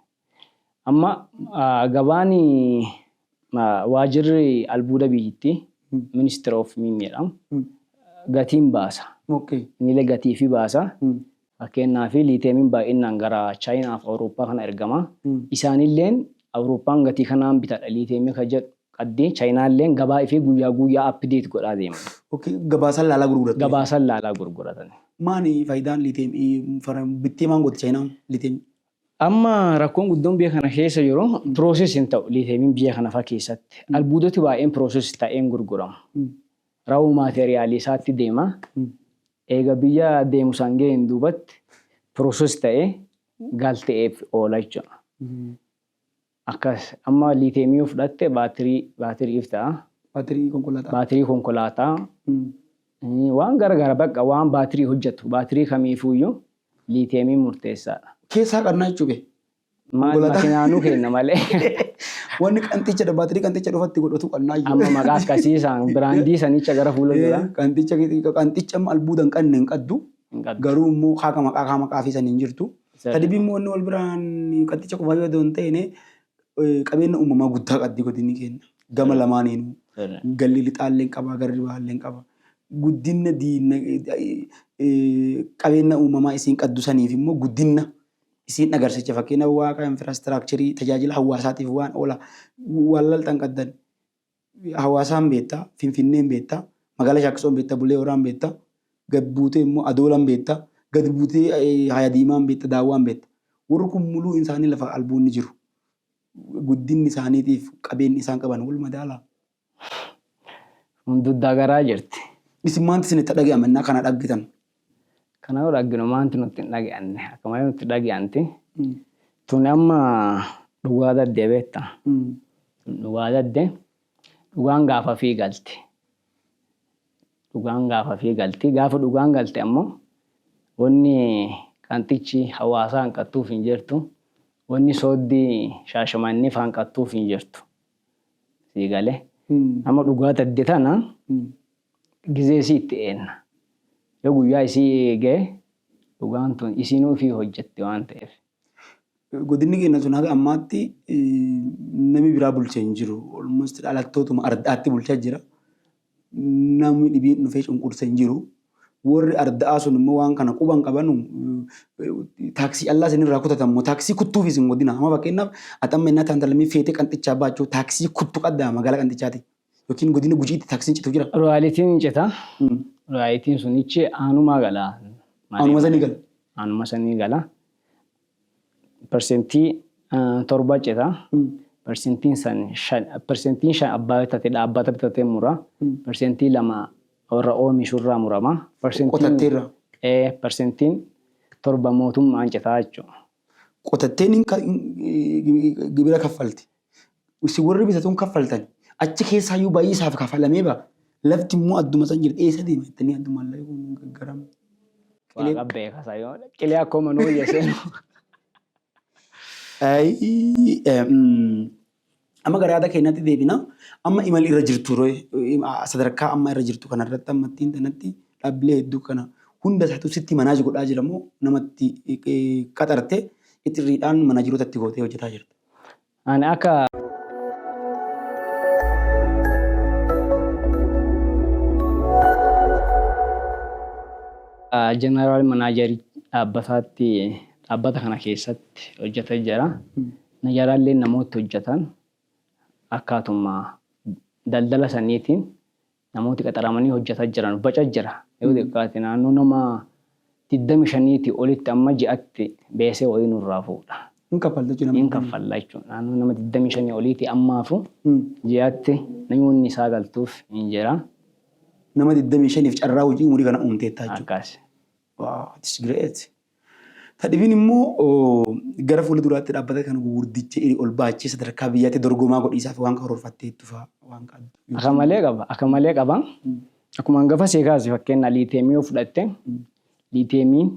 Amma gabaan waajirri albuuda biyyittii ministry of miin jedham gatiin baasa. Niile gatiifi baasa. Fakkeennaaf liiteemiin baay'innaan gara Chaayinaa fi Awurooppaa kana ergama. Isaanilleen Awurooppaan gatii kanaan bitadha liiteemii ka jedhu qaddi. Chaayinaalleen gabaa ifii guyyaa guuyyaa update godhaa deeman. Ok gabaasan laalaa gurguratan jechuudha. Gabaasan laalaa gurguratan. Maani faayidaan liiteemii bittee maan gooti Chaayinaan liiteemii? Amma rakkoon guddoon biyya kana keessa jiru process hin ta'u liiteemiin biyya kana fa keessatti. Albuudoti baay'een process ta'ee hin gurguramu. Raw material isaatti deema. Eega biyya deemu san gaheen duubatti process ta'ee galte'eef oola jechuudha. Akkas amma liiteemii yoo fudhatte baatirii baatiriif ta'a. Baatirii konkolaataa. Baatirii konkolaataa. Waan gara gara bakka waan baatirii hojjatu baatirii kamiifuuyyuu liiteemiin murteessaadha. Keessa haqannaa jechuu bee. Maal Konkolaataa- makinaa nu kenna malee. Wanni qanxicha dha baatirii qanxicha dhufatti godhatu qannaa iyyuu. Amma maqaa akkasii isaan biraandii sanicha gara fuula duraa Eh, Qanxicha qanxicha amma albuuda hin qabne hin qabdu. hin qabdu. Garuu immoo haaka maqaa kaa maqaa fi san hin jirtu. Isa- Tadibii immoo inni wal biraan qanxicha qofaa yoo ta'u hin ta'ine eh, qabeenya uumamaa guddaa qabdi godinni keenya. Gama lamaaniinuu. Sirri. galli lixaalleen qaba garri baalleen qaba guddinna diinna eh, eh, qabeenya uumamaa isiin qaddu saniif immoo guddinna Isiin agarsicha fakkeenya Waaqa infirastiraakcherii tajaajila hawaasaatiif waan oola waan laltan qaddan hawaasaan beetta, finfinneen beetta, magaala shaakkisoon beetta, bulee horaan beetta, gad buutee immoo adoolan beetta, gad buutee haya diimaan beetta, daawwaan beetta. Warri kun muluu insaanii lafa albuunni jiru guddinni isaaniitiif qabeenni isaan qaban wal madaala. Kun duddaa garaa jirti. Isin maanti isin itti dhage'ame ennaa kana dhaggitan? Kana yoo dhagginu maanti nutti hin dhage'anne? Akka malee nutti dhage'anti. Tuni amma dhugaa daddee beetta. Tun dhugaa daddee. Dhugaan gaafa fi galti. Dhugaan gaafa fi galti. Gaafa dhugaan galte ammoo wanni qanxichi hawaasaa hanqattuuf hin jirtu. Wanni sooddii shaashamannif hanqattuuf hin jirtu. Sii gale. Amma dhugaa tadde tana gizee isii itti eenna. Yoo guyyaa isii eegee dhugaan tun isiinuu ifii hojjatti waan ta'eef. Godinni keenya sun haga ammaatti nami biraa bulche hin jiru. Almost dhalattootuma ardaatti bulchaa jira. Nami dhibiin dhufee cunqurse hin jiru. Worri arda'aa sun immoo waan kana quba hin qabanu. Taaksii callaa isin irraa kutatan moo taaksii kuttuuf isin godina. Amma fakkeenyaaf ati amma innaa taantalamii feetee qanxichaa baachuu taaksii kuttu qaddaa magaalaa qanxichaatii. Yookiin godina gujiitti taaksiin citu jira. Royaalitiin hin cita. Royaalitiin sunichi aanumaa gala. Aanuma sanii gala. Aanuma sanii gala. persentii torba cita. Persentiin san shan, persentiin shan abbaa bitate dhaabbata bitatee mura. Persentii lama warra oomishu irraa murama. Persentiin Qotattee irraa. ee persentiin torba mootummaan citaa jechuudha. Qotatteen hin ka- hin- gibira kaffalti. Isin warri bitatuun kaffaltan achi keessaayyuu baay'ee isaaf kafalamee ba'a. Lafti immoo adduma san jirti. Eessa deema jettanii addu maallaqni kun hin gaggaramu. Qilee Waaqa beeka sayoo. Qilee akkoo manuu biyya seenu. Ayii, eh, mm, amma gara yaada keenyaatti deebina. Amma imala irra jirtu ree, im- a- sadarkaa amma irra jirtu kanarratti amma ittiin tanatti dhaabbilee hedduu kana hunda isaatu sitti manaaj godhaa jira moo namatti eh, qaxarte itirriidhaan manaajiroota itti gootee hojjetaa jirta? Ani akka. Jeneraal manaajarii dhaabbataatti dhaabbata kana keessatti hojjeta jira. Najaraallee namoota hojjetan akkaatuma daldala saniitiin Namooti qaxaramanii hojjata jiran baca jira. Yoo xiqqaate naannoo nama 25ti olitti amma ji'atti beesee wayii nurraa fuudha. Hin kaffalta jechuudha Hin namoonni. kaffalla jechuudha. Naannoo nama 25 oliiti ammaafu Mm. ji'atti namoonni isaa galtuuf hin jira. Nama 25f carraa hojii umurii kana uumteetta jechuudha. Akkas. Wow, it's great. Ta dhibiin immoo gara fuula duraatti dhaabbata kana gugurdicha iri ol baachee sadarkaa biyyaatti dorgomaa godhiisaaf waan karoorfatteettu faa waan qabdu. Aka malee qaba. Aka malee qaba. Akkuma hangafa sii kaase fakkeenyaa liiteemii yoo fudhatte liiteemiin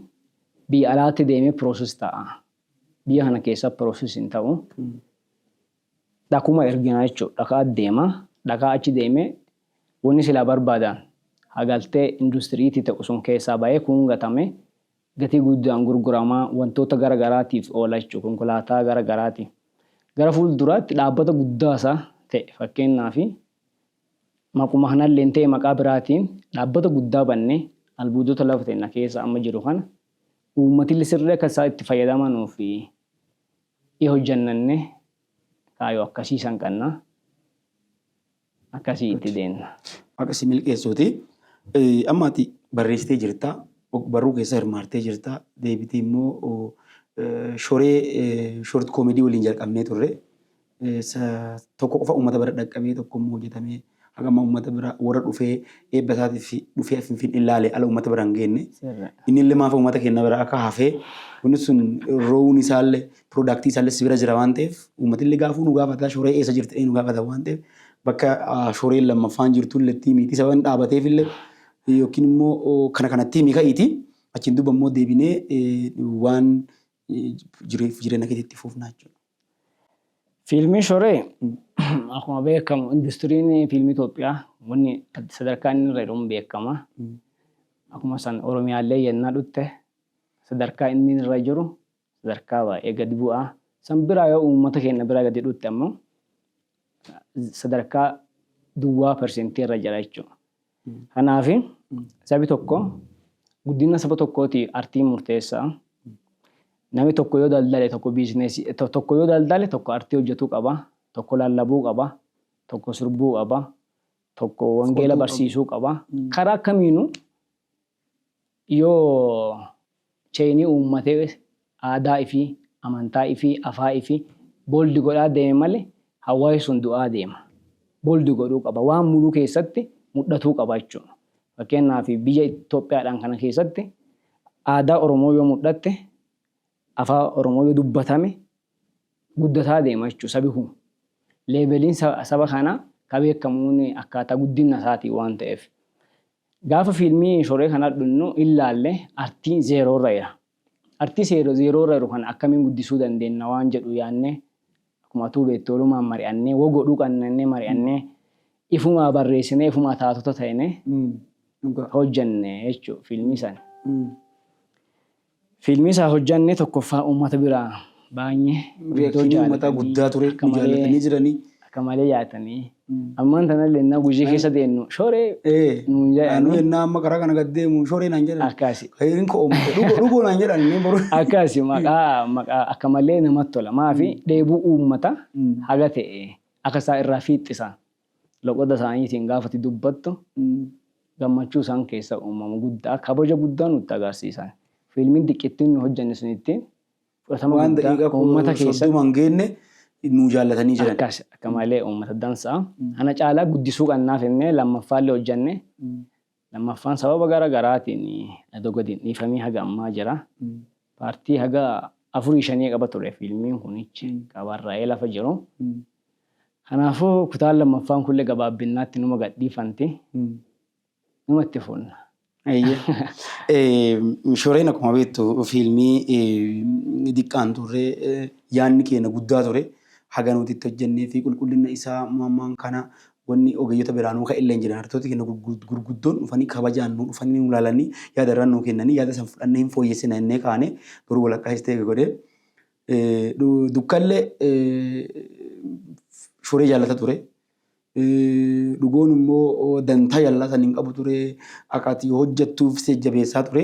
biyya alaatti deemee piroosis ta'a. Biyya kana keessa piroosis hin ta'u. Dhakuma ergina jechu dhakaa deema dhakaa achi deeme wani silaa barbaadan ha galtee industry ti ta'u sun keessaa ba'ee kuun gatame gatii guddaan gurgurama wantoota gara garaatiif oola jechu konkolaataa gara garaati gara fuul duraatti dhaabbata guddaasa ta'e fakkeennaaf maquma kanalleen ta'e maqaa biraatiin dhaabbata guddaa banne albuudota lafa tenna keessa amma jiru kana uummatille sirri akka isaa itti fayyadamanuuf Ni hojjannanne kaayoo akkasii san qanna akkasii itti deenna. Waaqa si milkeessuuti. Amma ati barreessitee jirta, barruu keessa hirmaattee jirta, deebitee immoo shoree short comedy waliin jalqabnee turre. Tokko qofa uummata bira dhaqqabee tokko immoo hojjetamee Haga ammaa uummata bira warra dhufee eebba isaatiif dhufee as Finfinnee ilaalee ala uummata bira hin geenne. Inni illee maafa uummata keenya bira akka hafee wanni sun roowuun isaallee piroodaaktii isaallee si bira jira waan ta'eef uummati illee gaafuu nu gaafata shoree eessa jirti jedhee nu gaafata waan ta'eef bakka shoreen lammaffaan jirtu illee tiimii isa waan dhaabateef illee yookiin immoo kana kana tiimii ka'iiti achiin duuba immoo deebinee waan jireenya keetti itti fuufnaa jechuudha. Fiilmiin Shoree akkuma beekamu industiriin fiilmii Itoophiyaa wanni sadarkaa inni irra jedhamu beekama. Akkuma san Oromiyaallee yennaa dhutte sadarkaa inni irra jiru sadarkaa baay'ee gadi bu'aa. San biraa yoo uummata keenya biraa gadi dhutte ammoo sadarkaa duwwaa persentii irra jira jechuudha. Kanaaf sabi tokko guddina saba tokkootiif artiin murteessaa. Nami tokko yoo daldale tokko biizineesii tokko yoo daldale tokko artii hojjetuu qaba, tokko lallabuu qaba, tokko sirbuu qaba, tokko wangeela barsiisuu qaba. Karaa kamiinuu Yoo cheyni ummate aadaa ifii, amantaa ifii, afaa ifii bold godhaa deeme male hawwaasi sun du'aa deema. Bold godhuu qaba. Waan muluu keessatti mudhatuu qaba jechuu. Fakkeennaaf biyya Itoophiyaadhaan kana keessatti aadaa Oromoo yoo mudhatte, afaa Oromoo yoo dubbatame guddataa deema jechuu sabi kun. Leeveliin saba kanaa ka beekamuun akkaataa guddinna isaatiin waan ta'eef. Gaafa fiilmii shoree kana adhunnu illaalle artiin zeeroorra ira. Artii seero zeeroorra iru kana akkamiin guddisuu dandeenna waan jedhu yaanne akkuma atuu beettu walumaan mari'annee wo godhuu qanna jennee mari'annee ifumaa barreessinee ifumaa taatota ta'ine Dhugaa. hojjenne jechuu fiilmii sana. Fiilmii isaa hojjanne tokkoffaa uummata biraa baay'ee iddoo jaalatanii akka malee akka malee yaatanii ammaan tanallee ennaa gujii keessa deennu shoree nuun jedhanii akkaasi akkaasi maqaa maqaa akka malee namatti tola maafi dheebuu uummata haga ta'e akka isaa irraa fiixxisa Loqoda isaaniitiin gaafa ati dubbattu gammachuu isaan keessa uumamu guddaa, kabaja guddaa nutti agarsiisan. Fiilmiin xiqqittiin nu hojjenne sun ittiin fudhatama Waan guddaa daqiiqa uummata koo keessatti soddoma hin geenne nuu jaallatanii jiran. akkas akka malee uummata dansaa. Kana caalaa guddisuu qabnaa finnee lammaffaallee hojjenne. Lammaffaan sababa gara garaatiin adoo gadi hin dhiifamiin haga ammaa jira. Paartii haga afurii shanii qaba ture fiilmiin kunichi ka barraa'ee lafa jiru. Kanaafuu kutaan lammaffaan kunillee gabaabbinnaatti numa gad dhiifanti. Numa itti fuunna. Eeyyee. Shoreen akkuma beektu fiilmii diqqaan turre yaadni keenya guddaa ture. Haga nuti itti hojjennee fi qulqullina isaa ammaan kana Wanni ogeeyyota biraa nuu ka'ellee hin jiru. Haadhatooti keenna gurguddoon dhufanii kabajaan nuu dhufanii nuu laalanii yaada irraa nuu kennanii yaada san fudhannee hin fooyyessina jennee kaane garuu walakkaa isteegi godhee dukkallee shoree jaallata ture. Dhugoon immoo dantaa jaalalaa san hin qabu ture. Akka ati hojjettuuf si jajjabeessaa ture.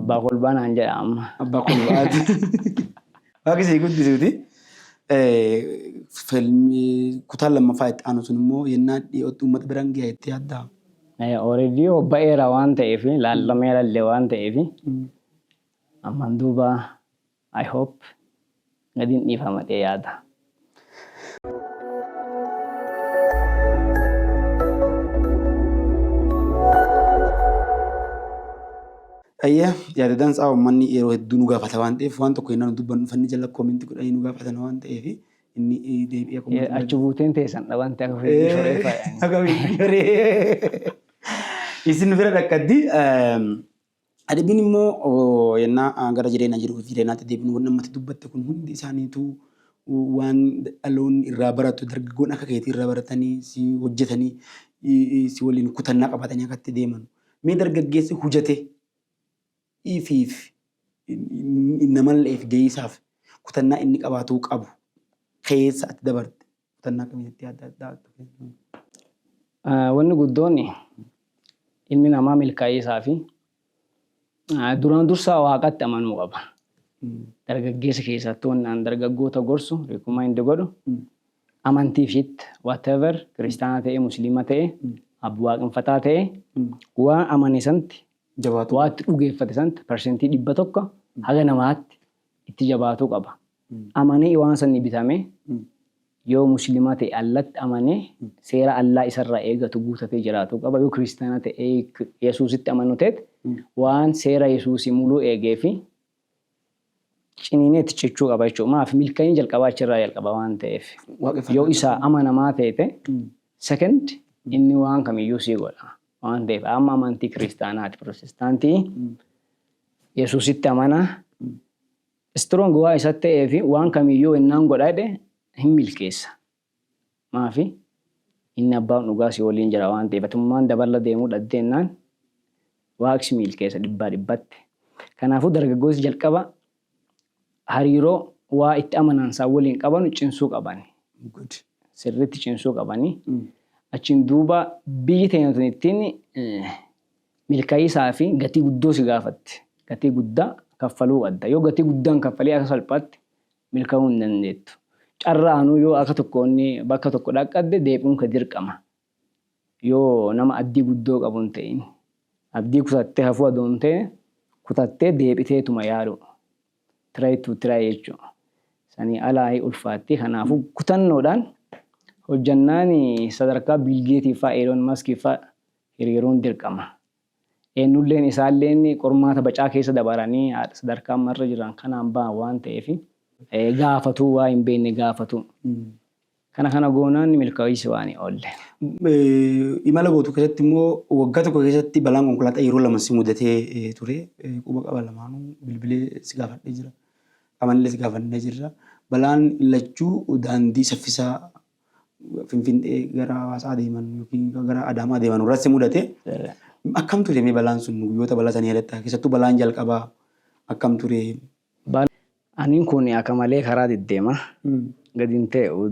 Abbaa kolbaa naan jedha amma. Abbaa kolbaati. Waaqi sii guddisuuti. Filmii kutaan lammaffaa itti aanu sun immoo yennaa dhiyootti uummata biraan gaha jettee yaaddaa? Already ba'eera waan ta'eef laallameera illee waan ta'eef ammaan duuba I hope nadin dhiifama dhee yaada. Ayyee yaada dansaa uummanni yeroo hedduu nu gaafata waan ta'eef waan tokko innaan dubbannu fanni jala koominti godhanii nu gaafatan waan ta'eef inni deebi'ee Ye- koominti Achi buuteen teessan dhaban ta'e ofii shoree faayani. Isin bira dhaqqaddi Adabbiin immoo yennaa gara jireenya jiruuf jireenyaatti deebinu wanni ammatti dubbatte kun hundi isaaniituu waan dhaloonni irraa baratu dargaggoon akka keetii irraa baratanii si hojjetanii si waliin kutannaa qabatanii akka itti deeman. Mee dargaggeessi hujate ifiif namalleef geeysaaf kutannaa inni qabaatuu qabu keessa ati dabarte Kutannaa akkamiitti adda addaa adda fayyadamna? Wanni guddoon ilmi namaa milkaa'iisaa fi duraan dursaa waaqatti amanuu qaba. Dargaggeessa keessattuu wanni aan dargaggoota gorsu recommend godhu amantii fit whatever kiristaana ta'e musliima ta'e abbu waaqinfataa ta'e waan amane santi Jabaatuu waatti dhugeeffate santi persentii dhibba tokko haga namaatti itti jabaatuu qaba. Amanee waan sanii bitame yoo muslima ta'e Allatti amanee seera Allaa isarraa eegatu guutatee jiraatuu qaba yoo kiristaana ta'e Yesuusitti amanu teet waan seera Yesuusii muluu eegeefi ciniinee itti cichuu qaba jechuudha maaf milka'inni jalqabaa achirraa jalqaba waan ta'eef yoo isaa amanamaa teete second inni waan kamiyyuu sii godha waan ta'eef amma amantii kiristaanaati pirotestaantii Yesuusitti amanaa Strong waan isatti ta'eef waan kamiyyuu ennaan godha jedhe hin milkeessa. Maafi? Inni abbaan dhugaa si waliin jira waan ta'eef. Atummaan dabarra deemuu dhadde ennaan Waaqi si milkeessa dhibbaa dhibbatti. Kanaafuu dargaggooti jalqaba hariiroo waa itti amanaan isaan waliin qabanu cimsuu qaban. Good. Sirriitti cimsuu qabani. Achiin duuba biyyi teenya tun ittiin milka'iisaa fi gatii guddoo si gaafatti. Gatii guddaa kaffaluu qabda. Yoo gatii guddaa hin kaffaliin akka salphaatti milka'uu hin dandeettu. Carraanuu yoo akka tokkoon bakka tokko dhaqqadde deebi'uun kee dirqama. Yoo nama abdii guddoo qabu hin ta'in. Abdii kutattee hafuu adoo hin ta'e kutattee deebiteetuma yaaluu. Try to try jechuu. Sanii alaayi ulfaatti. Kanaafuu kutannoodhaan hojjannaan sadarkaa Bill Geetii faa, Elon Musk faa hiriiruun dirqama. Eennulleen isaalleen qormaata bacaa keessa dabaranii sadarkaa amma irra jiran kanaan bahan waan ta'eef gaafatuu waa hin beekne gaafatuu. Kana kana goonaan ni milkaa'uus waan hin oolle. Imala gootu keessatti immoo waggaa tokko keessatti balaan konkolaataa yeroo lama si mudatee ture. Quba qaba lamaanuu bilbilee si gaafadhee jira. Qabanillee si gaafannee jirra. Balaan lachuu daandii saffisaa Finfinnee gara Hawaasaa deeman yookiin gara Adaamaa deeman irratti mudate akkam ture mee balaan sun guyyoota balaa sanii yaadatta keessattuu balaan jalqabaa akkam ture? Bal Aniin kun akka malee karaa deddeema gadi hin ta'u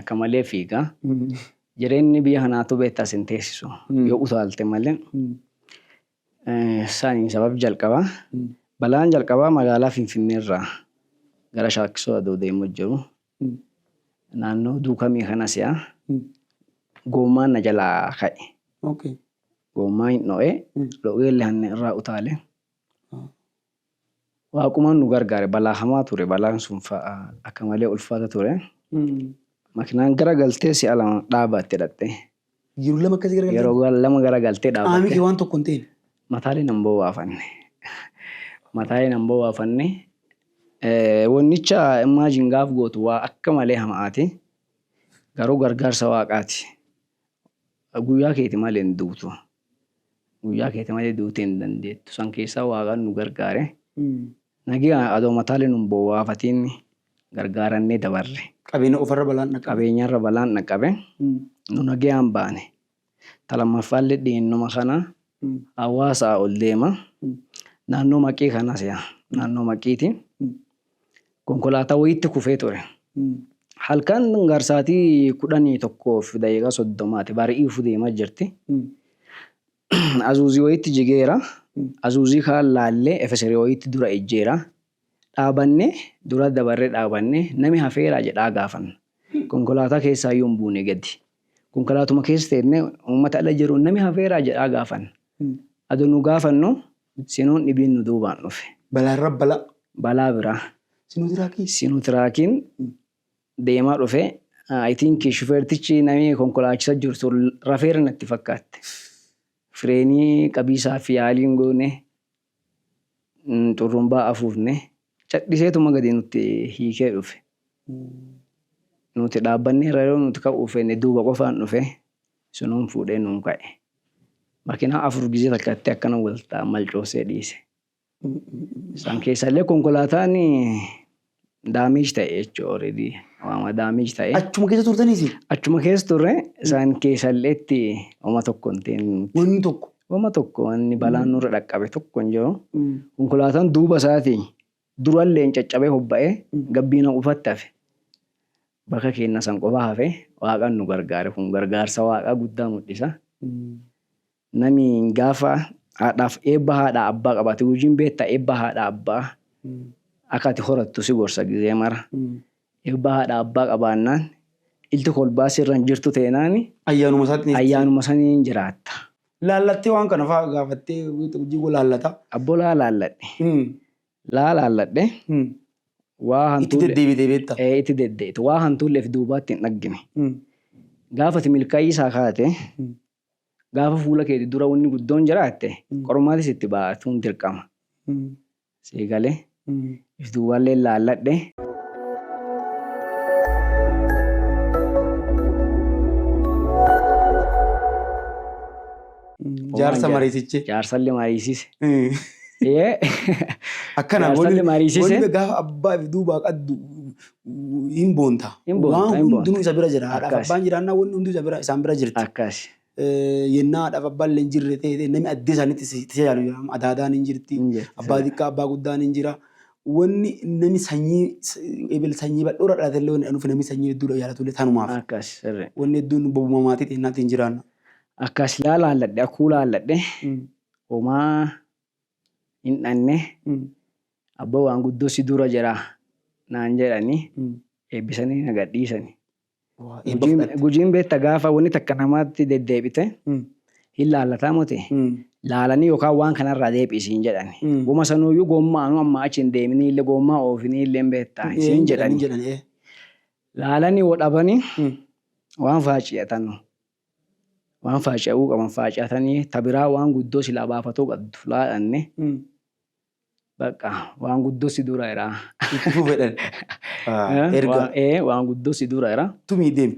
akka malee fiiga jireenyi biyya kanaatu beektaa sin teessisu yoo utaalte malee saniin sabab jalqabaa balaan jalqabaa magaalaa Finfinnee irraa gara Shaakkisoo adoo deemu jiru. Naannoo duukamii kana si'a goommaan na jalaa ka'e. Goommaa hin dho'e, dho'eellee hanni irraa utaale. Waaqumaan nu gargaare balaa hamaa ture. Balaan sun akka malee ulfaata ture. Makinaan gara galtee si'a lama dhaabatte dhaqxe. Yeroo lama akkasii garagalte. Yeroo lama garagaltee Qaamni kee dhaabatte. waan tokko hin ta'in. Mataalee nan bowwaafanne. Mataalee nan bowwaafanne. Eh, Wannicha imagine gaaf gootu waa akka malee hama'aati. Garuu gargaarsa waaqaati. Guyyaa keeti malee hin duutu. Guyyaa keeti malee duutee hin dandeettu. San keessaa waaqaan nu gargaare. Nagaa adoo mataalee nun bowwaafatiin gargaarannee dabarre. Qabeenya qofarra balaan dhaqqabe. Qabeenyarra balaan dhaqqabe. Nu nagayaan baane. Ta lammaffaallee dhiyeennuma kana hawaasaa ol deema. Naannoo Maqii kana si'a naannoo Maqiiti. Konkolaataa wayiitti kufee ture. Halkan garsaatii kudhanii tokkoof daqiiqaa soddomaati bari'iifu deemaa jirti. Azuuzii wayiitti jigeera. Azuuzii kaan laallee efeserii wayiitti dura ejjeera. Dhaabanne dura dabarre dhaabanne nami hafeeraa jedhaa gaafanna. Konkolaataa keessaayyuu hin buune gadi. Konkolaatuma keessa teennee uummata ala jiruun nami hafeeraa jedhaa gaafanna. Adoo nu gaafannu sinuun dhibiin nu duubaan dhufe. Balaarra balaa. Balaa biraa. Sinuutiraakii. Sinuutiraakiin deemaa dhufe. I think shufeertichi nami konkolaachisa jiru sun rafeera natti fakkaatte. Fireenii qabiisaaf yaaliin goone. xurrumbaa afuufne. Cadhiseetuma gadi nutti hiikee dhufe. Nuti dhaabbanneerra yoo nuti ka'uu feene duuba qofaan dhufe sunuun fuudhee nuun ka'e. Makinaa afur gizee takkatti akkana wal malcoosee dhiise. Isaan keessaallee konkolaataan Damage ta'e jechuudha already waama damage ta'e. Achuma keessa turtanii isin? Achuma keessa turre isaan keessallee itti homa tokko hin ta'in. Wanni tokko? Homa tokko wanni balaan nurra dhaqqabe tokko hin jiru. Konkolaataan duuba isaatii duralleen caccabee hobba'ee gabbiina qofatti hafe. Bakka keenna san qofa hafe waaqan nu gargaare kun gargaarsa waaqaa guddaa mul'isa. Nami gaafa haadhaaf eebba haadha abbaa qabaate hujiin beetta eebba haadha abbaa akka ati horattu si gorsa gizee mara. Eebba haadha abbaa qabaannaan ilti kolbaa sirra hin jirtu teenaani Ayyaanuma isaatti ayyaanuma saniin jiraatta. Laallattee waan kana faa gaafattee hujii koo laallata. Abboo laa laalladhe. Laa laalladhe waa Itti hantuulle deddeebitee beetta. ee itti deddeete waa hantuulle if duubaatti hin dhaggine. Gaafa ati milkaa'ii isaa kaate gaafa fuula keeti dura wanni guddoon jiraatte qormaati sitti baatuun dirqama. Sii gale if duubaallee laalladhe. Jaarsa mariisiche. Jaarsallee mariisise. Akkana Jaarsallee mariisise. gaafa abbaa fi duubaa qaddu hin boonta. Hin boonta, Waan hin boonta. hundinuu isa bira jira. Haadhaaf Akkaasi. abbaan jiraannaan wanni hunduu isa bira, isaan bira jirti. Akkaasi. Eh, Yennaa haadhaaf abbaan illee hin jirre ta'e ta'e namni addee isaaniitti si- itti tajaajilu jira. Adaadaan hin jirti. Hin jirti. Abbaa xiqqaa, abbaa guddaan hin jira. Wanni namni sanyii, s- ebel sanyii bal'oorra dhalate illee wanni dhufe namni sanyii hedduudha jaalatu illee tanumaaf. Akkaasi. Sirrii. Wanni hedduun bobuma maatii teennaatti hin jiraanna. Akkaasi. Laa laalladhe, akkuu laalladhe. Mm. Homaa hin dhanne abba waan guddoo si dura jira naan jedhani eebbisanii na gadhiisani. Gujiin beekta gaafa wanni takka namaatti deddeebite hin laallataa moti laalanii yookaan waan kanarraa deebi'i siin jedhani. Goma sanuuyyuu gommaa anuu amma achi hin deeminii illee gommaa oofinii illee beektaa siin jedhani. Laalanii woo dhabanii waan faaciyatanu. waan faaca'uu qaban faacatanii ta biraa waan guddoo silaa baafatoo qaddu laadhanne bakka waan guddoo si dura iraa. Itti fufedhan. Erga. Waan guddoo si dura iraa. Tumii deemi.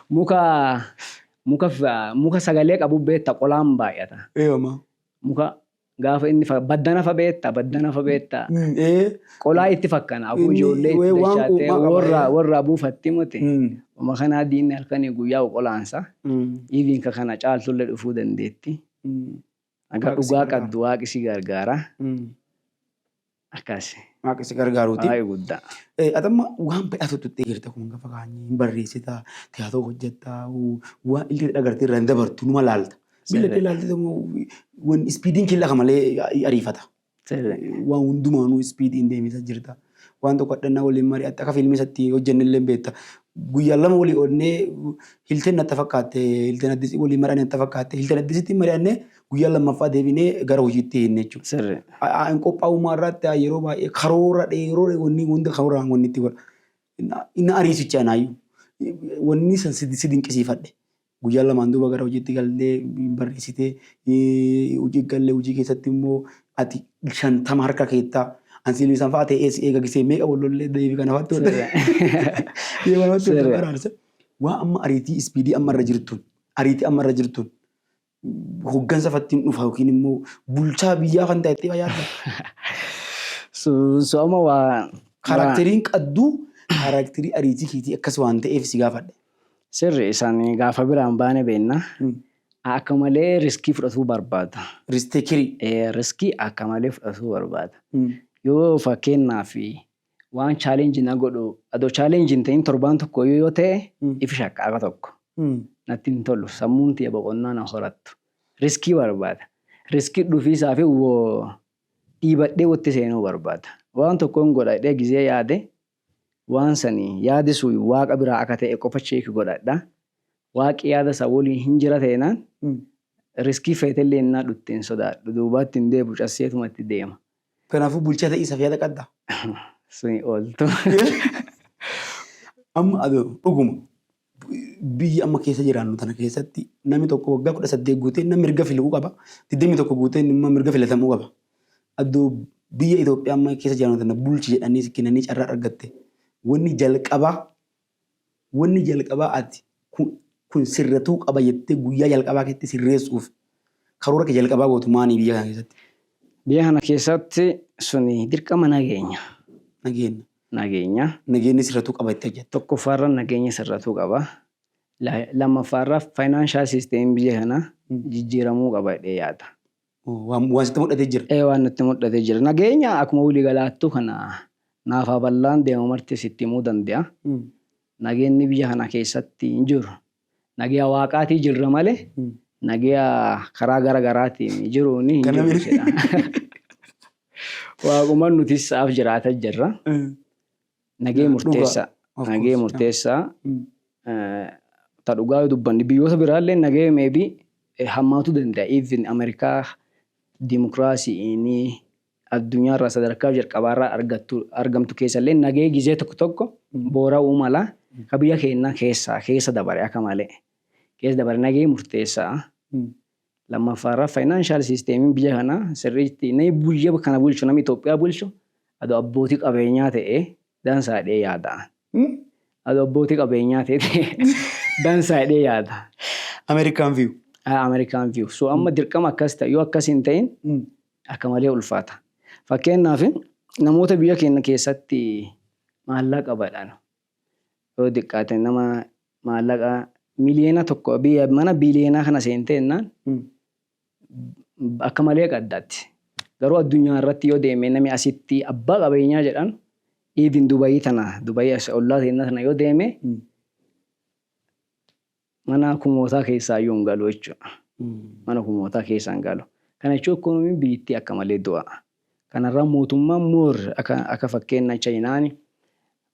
Muka muka muka sagalee qabu beetta qolaan baay'ata. Eeyama. Muka Gaafa inni fa- baddana fa beetta baddana fa beetta Mm, ee, qolaa itti fakkana abuu Inni ijoollee wee itti waan dachaattee quuqaa qaba, warraa ee. warraa buufatte mute mm, uma kanaa diinni halkanii guyyaa qolaansa mm, iiviin ka kana caaltullee dhufuu dandeetti mm, Aga Waaqi si dhugaa gargaara. qabdu waaqi si gargaara. mm. Akkas. Waaqa si gargaaruuti. Waaqa guddaa. Eh, Ati amma waan badhaatu tuttee jirta kun gafa kaanii hin barreessita, tiyaatoo hojjetta, waan illee dhagartee irraa hin dabartu numa laalta. Miila kee laaltee immoo waan ispiidiin kee lafa malee ariifata. Sirri. Waan hundumaanuu ispiidiin deemisa jirta. Waan tokko hadhannaa waliin mari'atta akka fiilmii isatti hojjenne illee beekta. Guyyaa lama walii oolnee hilteen natti fakkaatte, hilteen addisii waliin mari'anne natti fakkaatte, hilteen addisiitti mari'anne Guyyaa lammaffaa deebinee gara hojiitti hiinne jechuudha. Sirri. Hin qophaa'ummaa irratti yeroo baay'ee karoora dheeroo wanni hunda karooraan wanni itti godha. Inni ariisicha anaayyuu. Wanni san si dinqisiifadhe. Guyyaa lamaan duuba gara hojiitti galtee barreessitee hojii gallee hojii keessatti immoo ati shantama harka keettaa. Ansiilii san fa'aa ta'ee si eegagisee meeqa wallollee deebii kana fa'aatti wal deebii kana fa'aatti wal baraarsa. Waa amma ariitii ispiidii amma irra jirtuun ariitii amma irra jirtuun hoggansa fattiin dhufa yookiin immoo bulchaa biyyaa kan ta'e ta'e yaadda. Sooma waa. Kaaraakteriin qadduu kaaraakterii ariitii keetii akkas waan ta'eef si gaafadhe. Sirri isaan gaafa biraan baane beenna. Akka malee riskii fudhatuu barbaada. Risteekirii. Riskii akka malee fudhatuu barbaada. Yoo fakkeenyaaf waan challenge na godhu adoo challenge hin ta'in torbaan tokko yoo yoo ta'e ifi shakka akka tokko natti hin tolu sammuun tiyya boqonnaa na horattu riskii barbaada riskii dhufiisaa fi wo dhiibadhee wotti seenuu barbaada waan tokkoon godha jedhee gizee yaade waan sani yaadi sun waaqa biraa akka ta'e qofa cheeki godhadha waaqi yaada isaa woliin hin jira ta'enaan riskii feetellee innaa dhutte hin sodaadhu duubaatti hin deebu casseetumatti deema Kanaafuu bulchaa ta'ii isaaf yaada qabda. Suni ooltu. Amma adoo dhuguma biyya amma keessa jiraannu tana keessatti namni tokko waggaa kudha saddeet guutee namni mirga filuu qaba. Digdamii tokko guutee immoo mirga filatamuu qaba. Adoo biyya Itoophiyaa amma keessa jiraannu tana bulchi jedhanii si kennanii carraa argatte. Wanni jalqabaa Wanni jalqabaa ati kun kun sirratuu qaba jettee guyyaa jalqabaa keetti sirreessuuf karoora kee jalqabaa gootu maanii biyya kana keessatti? Biyya kana keessatti suni dirqama nageenya. Nageenya. Nageenya. Nageenyi sirratuu qaba jettee hojjetta? Tokkoffaa irra nageenyi sirratuu qaba. Lammaffaa irra financial system biyya kana jijjiiramuu qaba jedhee yaada. Waan waan sitti mudhatee jira. Ee waan natti mudhatee jira. Nageenya akkuma wili galaattuu kana naafaa ballaan deemu marti sitti himuu dande'a. Nageenni biyya kana keessatti hin jiru. Nageya waaqaatii jirra male nageya karaa gara garaatiin jiruun hin Kana jiru miti. jedha. Waaquman nutis sa'aaf jiraata jirra. Nagee murteessaa. Nagee murteessaa. Ta dhugaa yoo dubbanne biyyoota biraallee nagee meebii hammaatu danda'a. Even Ameerikaa dimokiraasiinii addunyaarraa sadarkaa jalqabaarraa argattu argamtu keessallee nagee gizee tokko tokko boora'uu mala ka biyya keennaa keessaa keessa dabare akka malee keessa dabare nagee murteessaa. Lammaffaa irraa financial system biyya kanaa sirriitti namni biyya kana bulchu namni Itoophiyaa bulchu adoo abbootii qabeenyaa ta'e dansaa jedhee yaada. Hmm? Adoo abbootii qabeenyaa ta'e dansaa jedhee yaada. American view. Ah, American view. So amma dirqama akkas ta'e yoo akkas hin ta'in Hmm. akka malee ulfaata. Fakkeenyaaf namoota biyya keenya keessatti maallaqa badhan yoo diqqaate nama maallaqa miliyoona tokko biyya mana biliyoonaa kana seentee jennaan akka malee qaddatti. Garuu addunyaa irratti yoo deeme nami asitti abbaa qabeenyaa jedhan even Dubayii tana Dubayii as ollaa keenya tana yoo deeme Mana kumootaa keessaa yoon galu jechuudha. Mana kumootaa keessaan galu. Kana jechuun ikoonomiin biyyittii akka malee du'a. Kanarraa mootummaan moor akka fakkeenna Chayinaan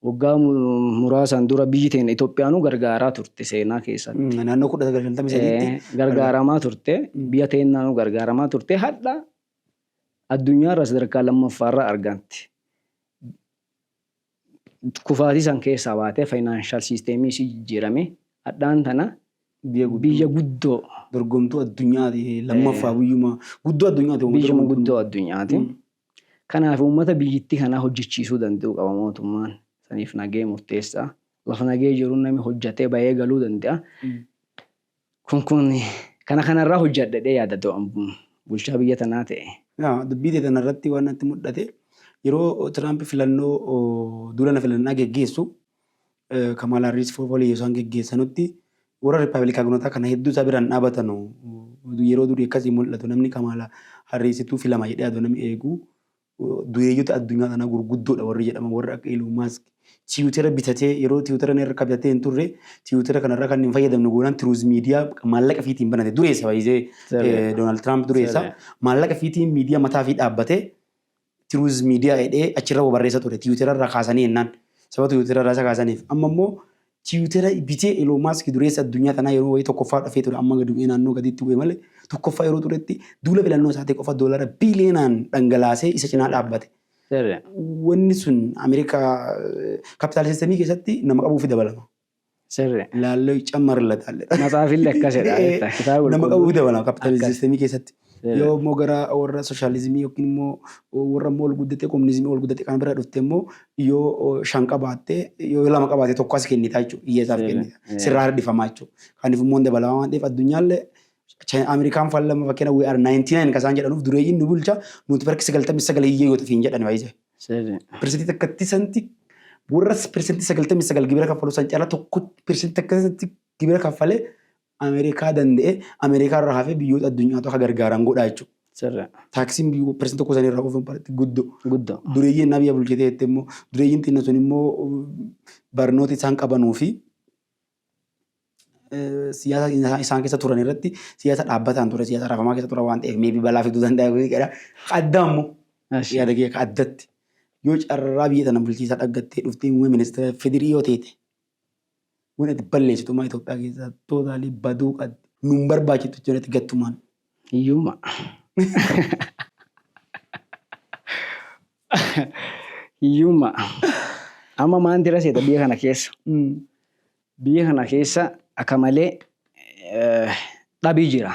waggaa muraasaan dura biyyi teenya Itoophiyaanuu gargaaraa turte seenaa keessatti. Naannoo 1953tti. Gargaaramaa turte biyya teenyaanuu gargaaramaa turte hadha addunyaarra sadarkaa lammaffaarra argamti. kufaatii san keessaa baatee financial system isii jijjiiramee hadhaan tana biyya guddoo dorgomtuu addunyaati lammaffaa biyyuma guddoo addunyaati biyyuma guddoo addunyaati kanaaf uummata biyyittii kanaa hojjechiisuu danda'uu qaba mootummaan saniif nagee murteessaa lafa nagee jiruun nami hojjatee bayee galuu danda'a Kun kun kana kana irraa hojjadha jedhee yaada do an bulchaa biyya tanaa ta'e. Yaa dubbii tee tana irratti waan natti mudhate yeroo Tiraamp filannoo duula na filannaa geggeessu Kamaal Harris fofoliyya isaan geggeessanutti warra Rippabilikaagnotaa kana hedduu isaa biraan dhaabatanu yeroo durii akkasii mul'atu namni Kamaala Harrisitu filama jedhee adoo namni eegu Dureeyyota addunyaa kanaa gurguddoodha warri jedhaman warri akka Elon Musk tiwutera bitatee yeroo tiwutera inni harka bitatee hin turre tiwutera kanarraa kan hin fayyadamne goonaan tiruuz miidiyaa maallaqa fiitiin banate dureessa baay'isee Sirriidha. Doonaald Tiraamp dureessa Sirriidha. maallaqa fiitiin miidiyaa mataa fi dhaabbatee tiruuz miidiyaa jedhee achirra barreessa ture tiwutera irraa kaasanii jennaan sababa tiwutera irraa isa kaasaniif amma immoo Tiwitera bitee Elon Musk dureessa addunyaa tanaa yeroo wayii tokkoffaa dhafee ture amma gadi bu'ee naannoo gadiitti bu'e malee tokkoffaa yeroo turetti duula filannoo isaatii qofa doolaara biiliyoonaan dhangalaasee isa cinaa dhaabbate. Sirri. Wanni sun Ameerikaa kapitaal sistemii keessatti nama qabuufi dabalama. Sirri. Laallee cammarla taalle. Matsaafillee akkasidha. Kitaaba Nama qulqulluu. qabuufi dabalama kapitaal Akkas. sistemii keessatti. Yoo immoo gara warra sooshaalizimii yookiin immoo warra immoo ol guddatee kominizimii ol guddatee kana bira dhufte immoo yoo shan qabaatte yoo lama qabaatte tokko as kennita jechuudha. Hiyyeessaaf Seera, kennita. eh. Sirraa hir'ifamaa jechuudha. Kanaaf immoo hin dabalamaa waan ta'eef addunyaallee Chaayinaa- Ameerikaan faallama fakkeenya we are 99 kasaan jedhanuuf dureeyyiin nu bulcha nuti barki 99 hiyyee yoo tafiin jedhan baay'ee. Seera. Pirsentii takkatti santi warra pirsentii 99 gibira kaffalu san caalaa tokko pirsentii takkatti gibira kaffalee Amerikaa danda'ee Amerikaa irraa hafee biyyoota addunyaatu akka gargaaran godhaa jechuudha. Sirra. Taaksiin biyyoota parsantii tokko sanii irraa oofan parsantii guddoo. Guddoo. Dureeyyiin na biyya bulchitee jettee immoo dureeyyiin xinna sun immoo barnoota isaan qabanuu fi eh, siyaasa isaan- isaan keessa turan irratti siyaasa dhaabbataan ture siyaasa rafamaa keessa ture waan ta'eef meebii balaa fiduu danda'a kun jedha. Adda immoo Ashi. yaada kee akka addatti yoo carraa biyya tana bulchiisaa dhaggattee dhuftee muummee ministeera federii yoo teete Waan ati balleessitu maa Itoophiyaa keessaa tootaalii baduu qabdi. Nun barbaachitu jalatti gattumaan. Hiyyummaa. Hiyyummaa. Amma maanti irra seeta biyya kana keessa. Biyya kana keessa akka malee dhabii jira.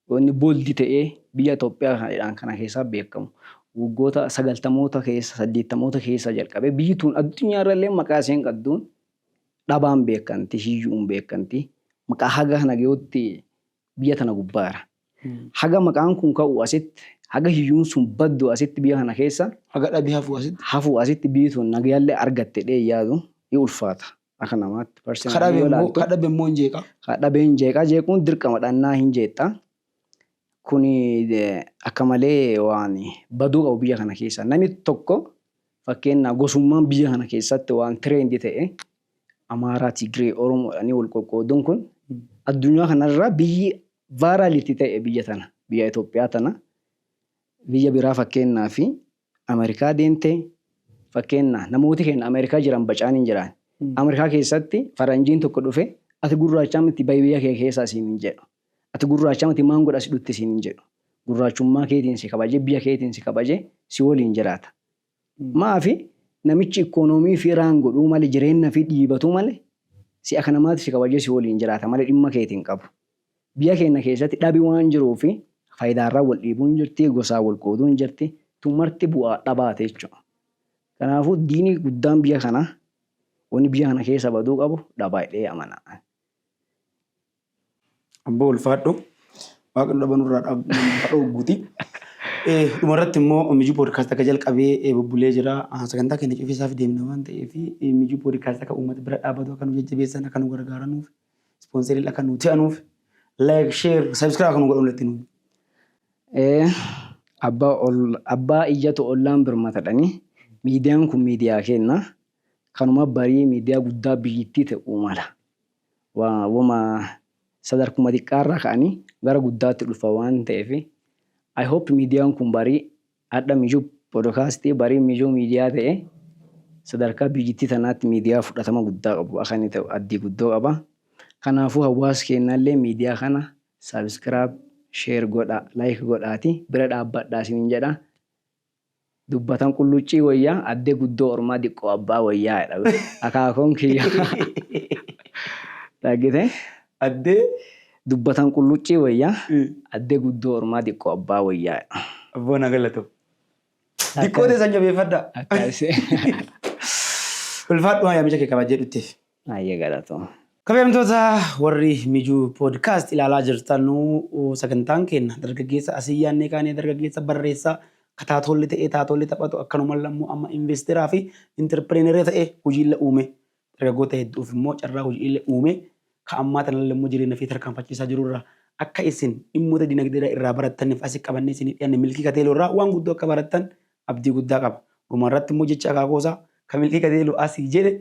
Wanni bold ta'ee biyya Itoophiyaa kana jedhaan kana keessaa beekkamu, waggoota sagaltamoota keessa, saddeettamoota keessaa jalqabee biyyi tun addunyaa irra illee maqaa isheen qabduun dhabaan beekkanti, hiyyu'uun beekkanti. Maqaa haga kana gahutti biyya tana gubbaara. Haga maqaan kun ka'u asitti, haga hiyyuun sun baddu asitti biyya kana keessa. Haga dhabi hafu asitti. Hafu asitti biyyi tun nagaya illee argatte jedhee hin yaadu. Ni ulfaata. Akka namaatti personally yoo ilaaltu. Ka dhabe immoo hin jeeqa. Ka dhabe hin jeeqa jeequun dirqama dhannaa hin jeeqxa. Kuni akka malee waan baduu qabu biyya kana keessa. Namni tokko fakkeenyaa gosummaan biyya kana keessatti waan tireendii ta'e Amaaraa, Tigree, Oromoodhaanii wal qoqqooduun kun addunyaa kanarraa biyyi vaaraalitti ta'e biyya tana biyya Itoophiyaa tana biyya biraa fakkeenyaa fi Amerikaa deemte fakkeenna namooti keenna Amerikaa jiran bacaan hin jiraan. Amerikaa keessatti faranjiin tokko dhufe ati gurraachaa miti bahi biyya kee keessaa siin hin jedhu. Ati gurraachaa miti maan godha si dhutti siin hin jedhu. Gurraachummaa keetiin si kabaje biyya keetiin si kabaje si waliin jiraata. Maafi namichi ikkonoomii fi raan godhuu male jireenna fi dhiibatuu male si aka namaati si kabajee si waliin jiraata male dhimma keeti hin qabu. Biyya keenna keessatti dhabi waan jiruuf fayidaarra wal dhiibuun jirti, gosaan wal qooduun jirti. Tun marti bu'aa dhabaati jechuudha. Kanaafuu diini guddaan biyya kanaa wanni biyya kana keessa baduu qabu dhaba jedhee amana ani. Abboo ulfaadhu. Waaqni dhaba nurraa dhaab- ha dhoogguti. Eh, Dhuma irratti immoo Mijuu Podcast akka jalqabee eh, bubbulee jira. Ah, Sagantaa keenya cufiisaaf deemna waan ta'eef eh, Mijuu Podcast akka uummata bira dhaabatu akka nu jajjabeessan akka nu gargaaranuuf Ispoonseriin akka nu ta'anuuf like, share, subscribe akka nu godhan walitti nuuf. Ee, abbaa ol, abbaa iyyatu ollaan birmatadhani. Miidiyaan kun miidiyaa keenna. Kanuma barii miidiyaa guddaa biyyittii ta'uu mala. Wa, wama sadarkuma xiqqaarraa ka'anii gara guddaatti dhufa waan ta'eef. I hope miidiyaan kun barii Adha Mijuu Podokaasti'ii barii Mijuu Miidiyaa ta'e sadarkaa biyyittii tanaatti miidiyaa fudhatama guddaa qabu akka inni ta'u addii guddoo qaba. Kanaafuu hawwaasi keennallee miidiyaa kana subscribe, share godhaa, like godhaati bira dhaabbadhaa isiniin jedha. Dubbatan qulluccii woyya adde guddoo ormaa diqqoo abbaa woyyaa jedha akaakoon kiyya. Dhaggite? Addee Dubbatan qulluccii wayya. Addee guddoo ormaa diqqoo abbaa wayyaa. Abboo na galatoom. Diqqoo teessan jabeeffadhaa. Akkas. Ulfaadhu yaamicha kee kabajjee dhutteef. Ayyee galatoom. Kabajamtoota warri Mijuu Podcast ilaalaa jirtanu sagantaan keenya dargaggeessa asii yaannee kaanee dargaggeessa barreessaa ka taatoolli ta'ee taatoolli taphatu akkanumallee ammoo amma investeeraa fi interpireeneera ta'ee hojiilla uume Dargaggoota hedduuf immoo carraa hojiilee uumee ka ammaa tanalle immoo jireenya ifii tarkaanfachiisaa jiru irraa akka isin dhimmoota dinagdeedhaa irraa barattaniif asi qabannee isinii dhiyaanne Milkii Kateeloo irraa waan guddoo akka barattan abdii guddaa qaba. Dhuma irratti immoo jecha akaakoo isaa ka Milkii Kateeloo asi jedhe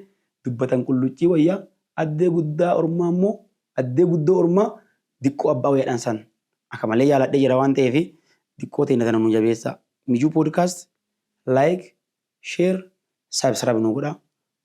dubbatan qulluccii wayya addee guddaa ormaa immoo addee guddoo ormaa diqqoo abbaa wayya dhan san akka malee jaaladhee jira waan ta'eef diqqoo teenna tana nuu jabeessaa. Mijuu Podcast Like, Share, Subscribe nuu godhaa.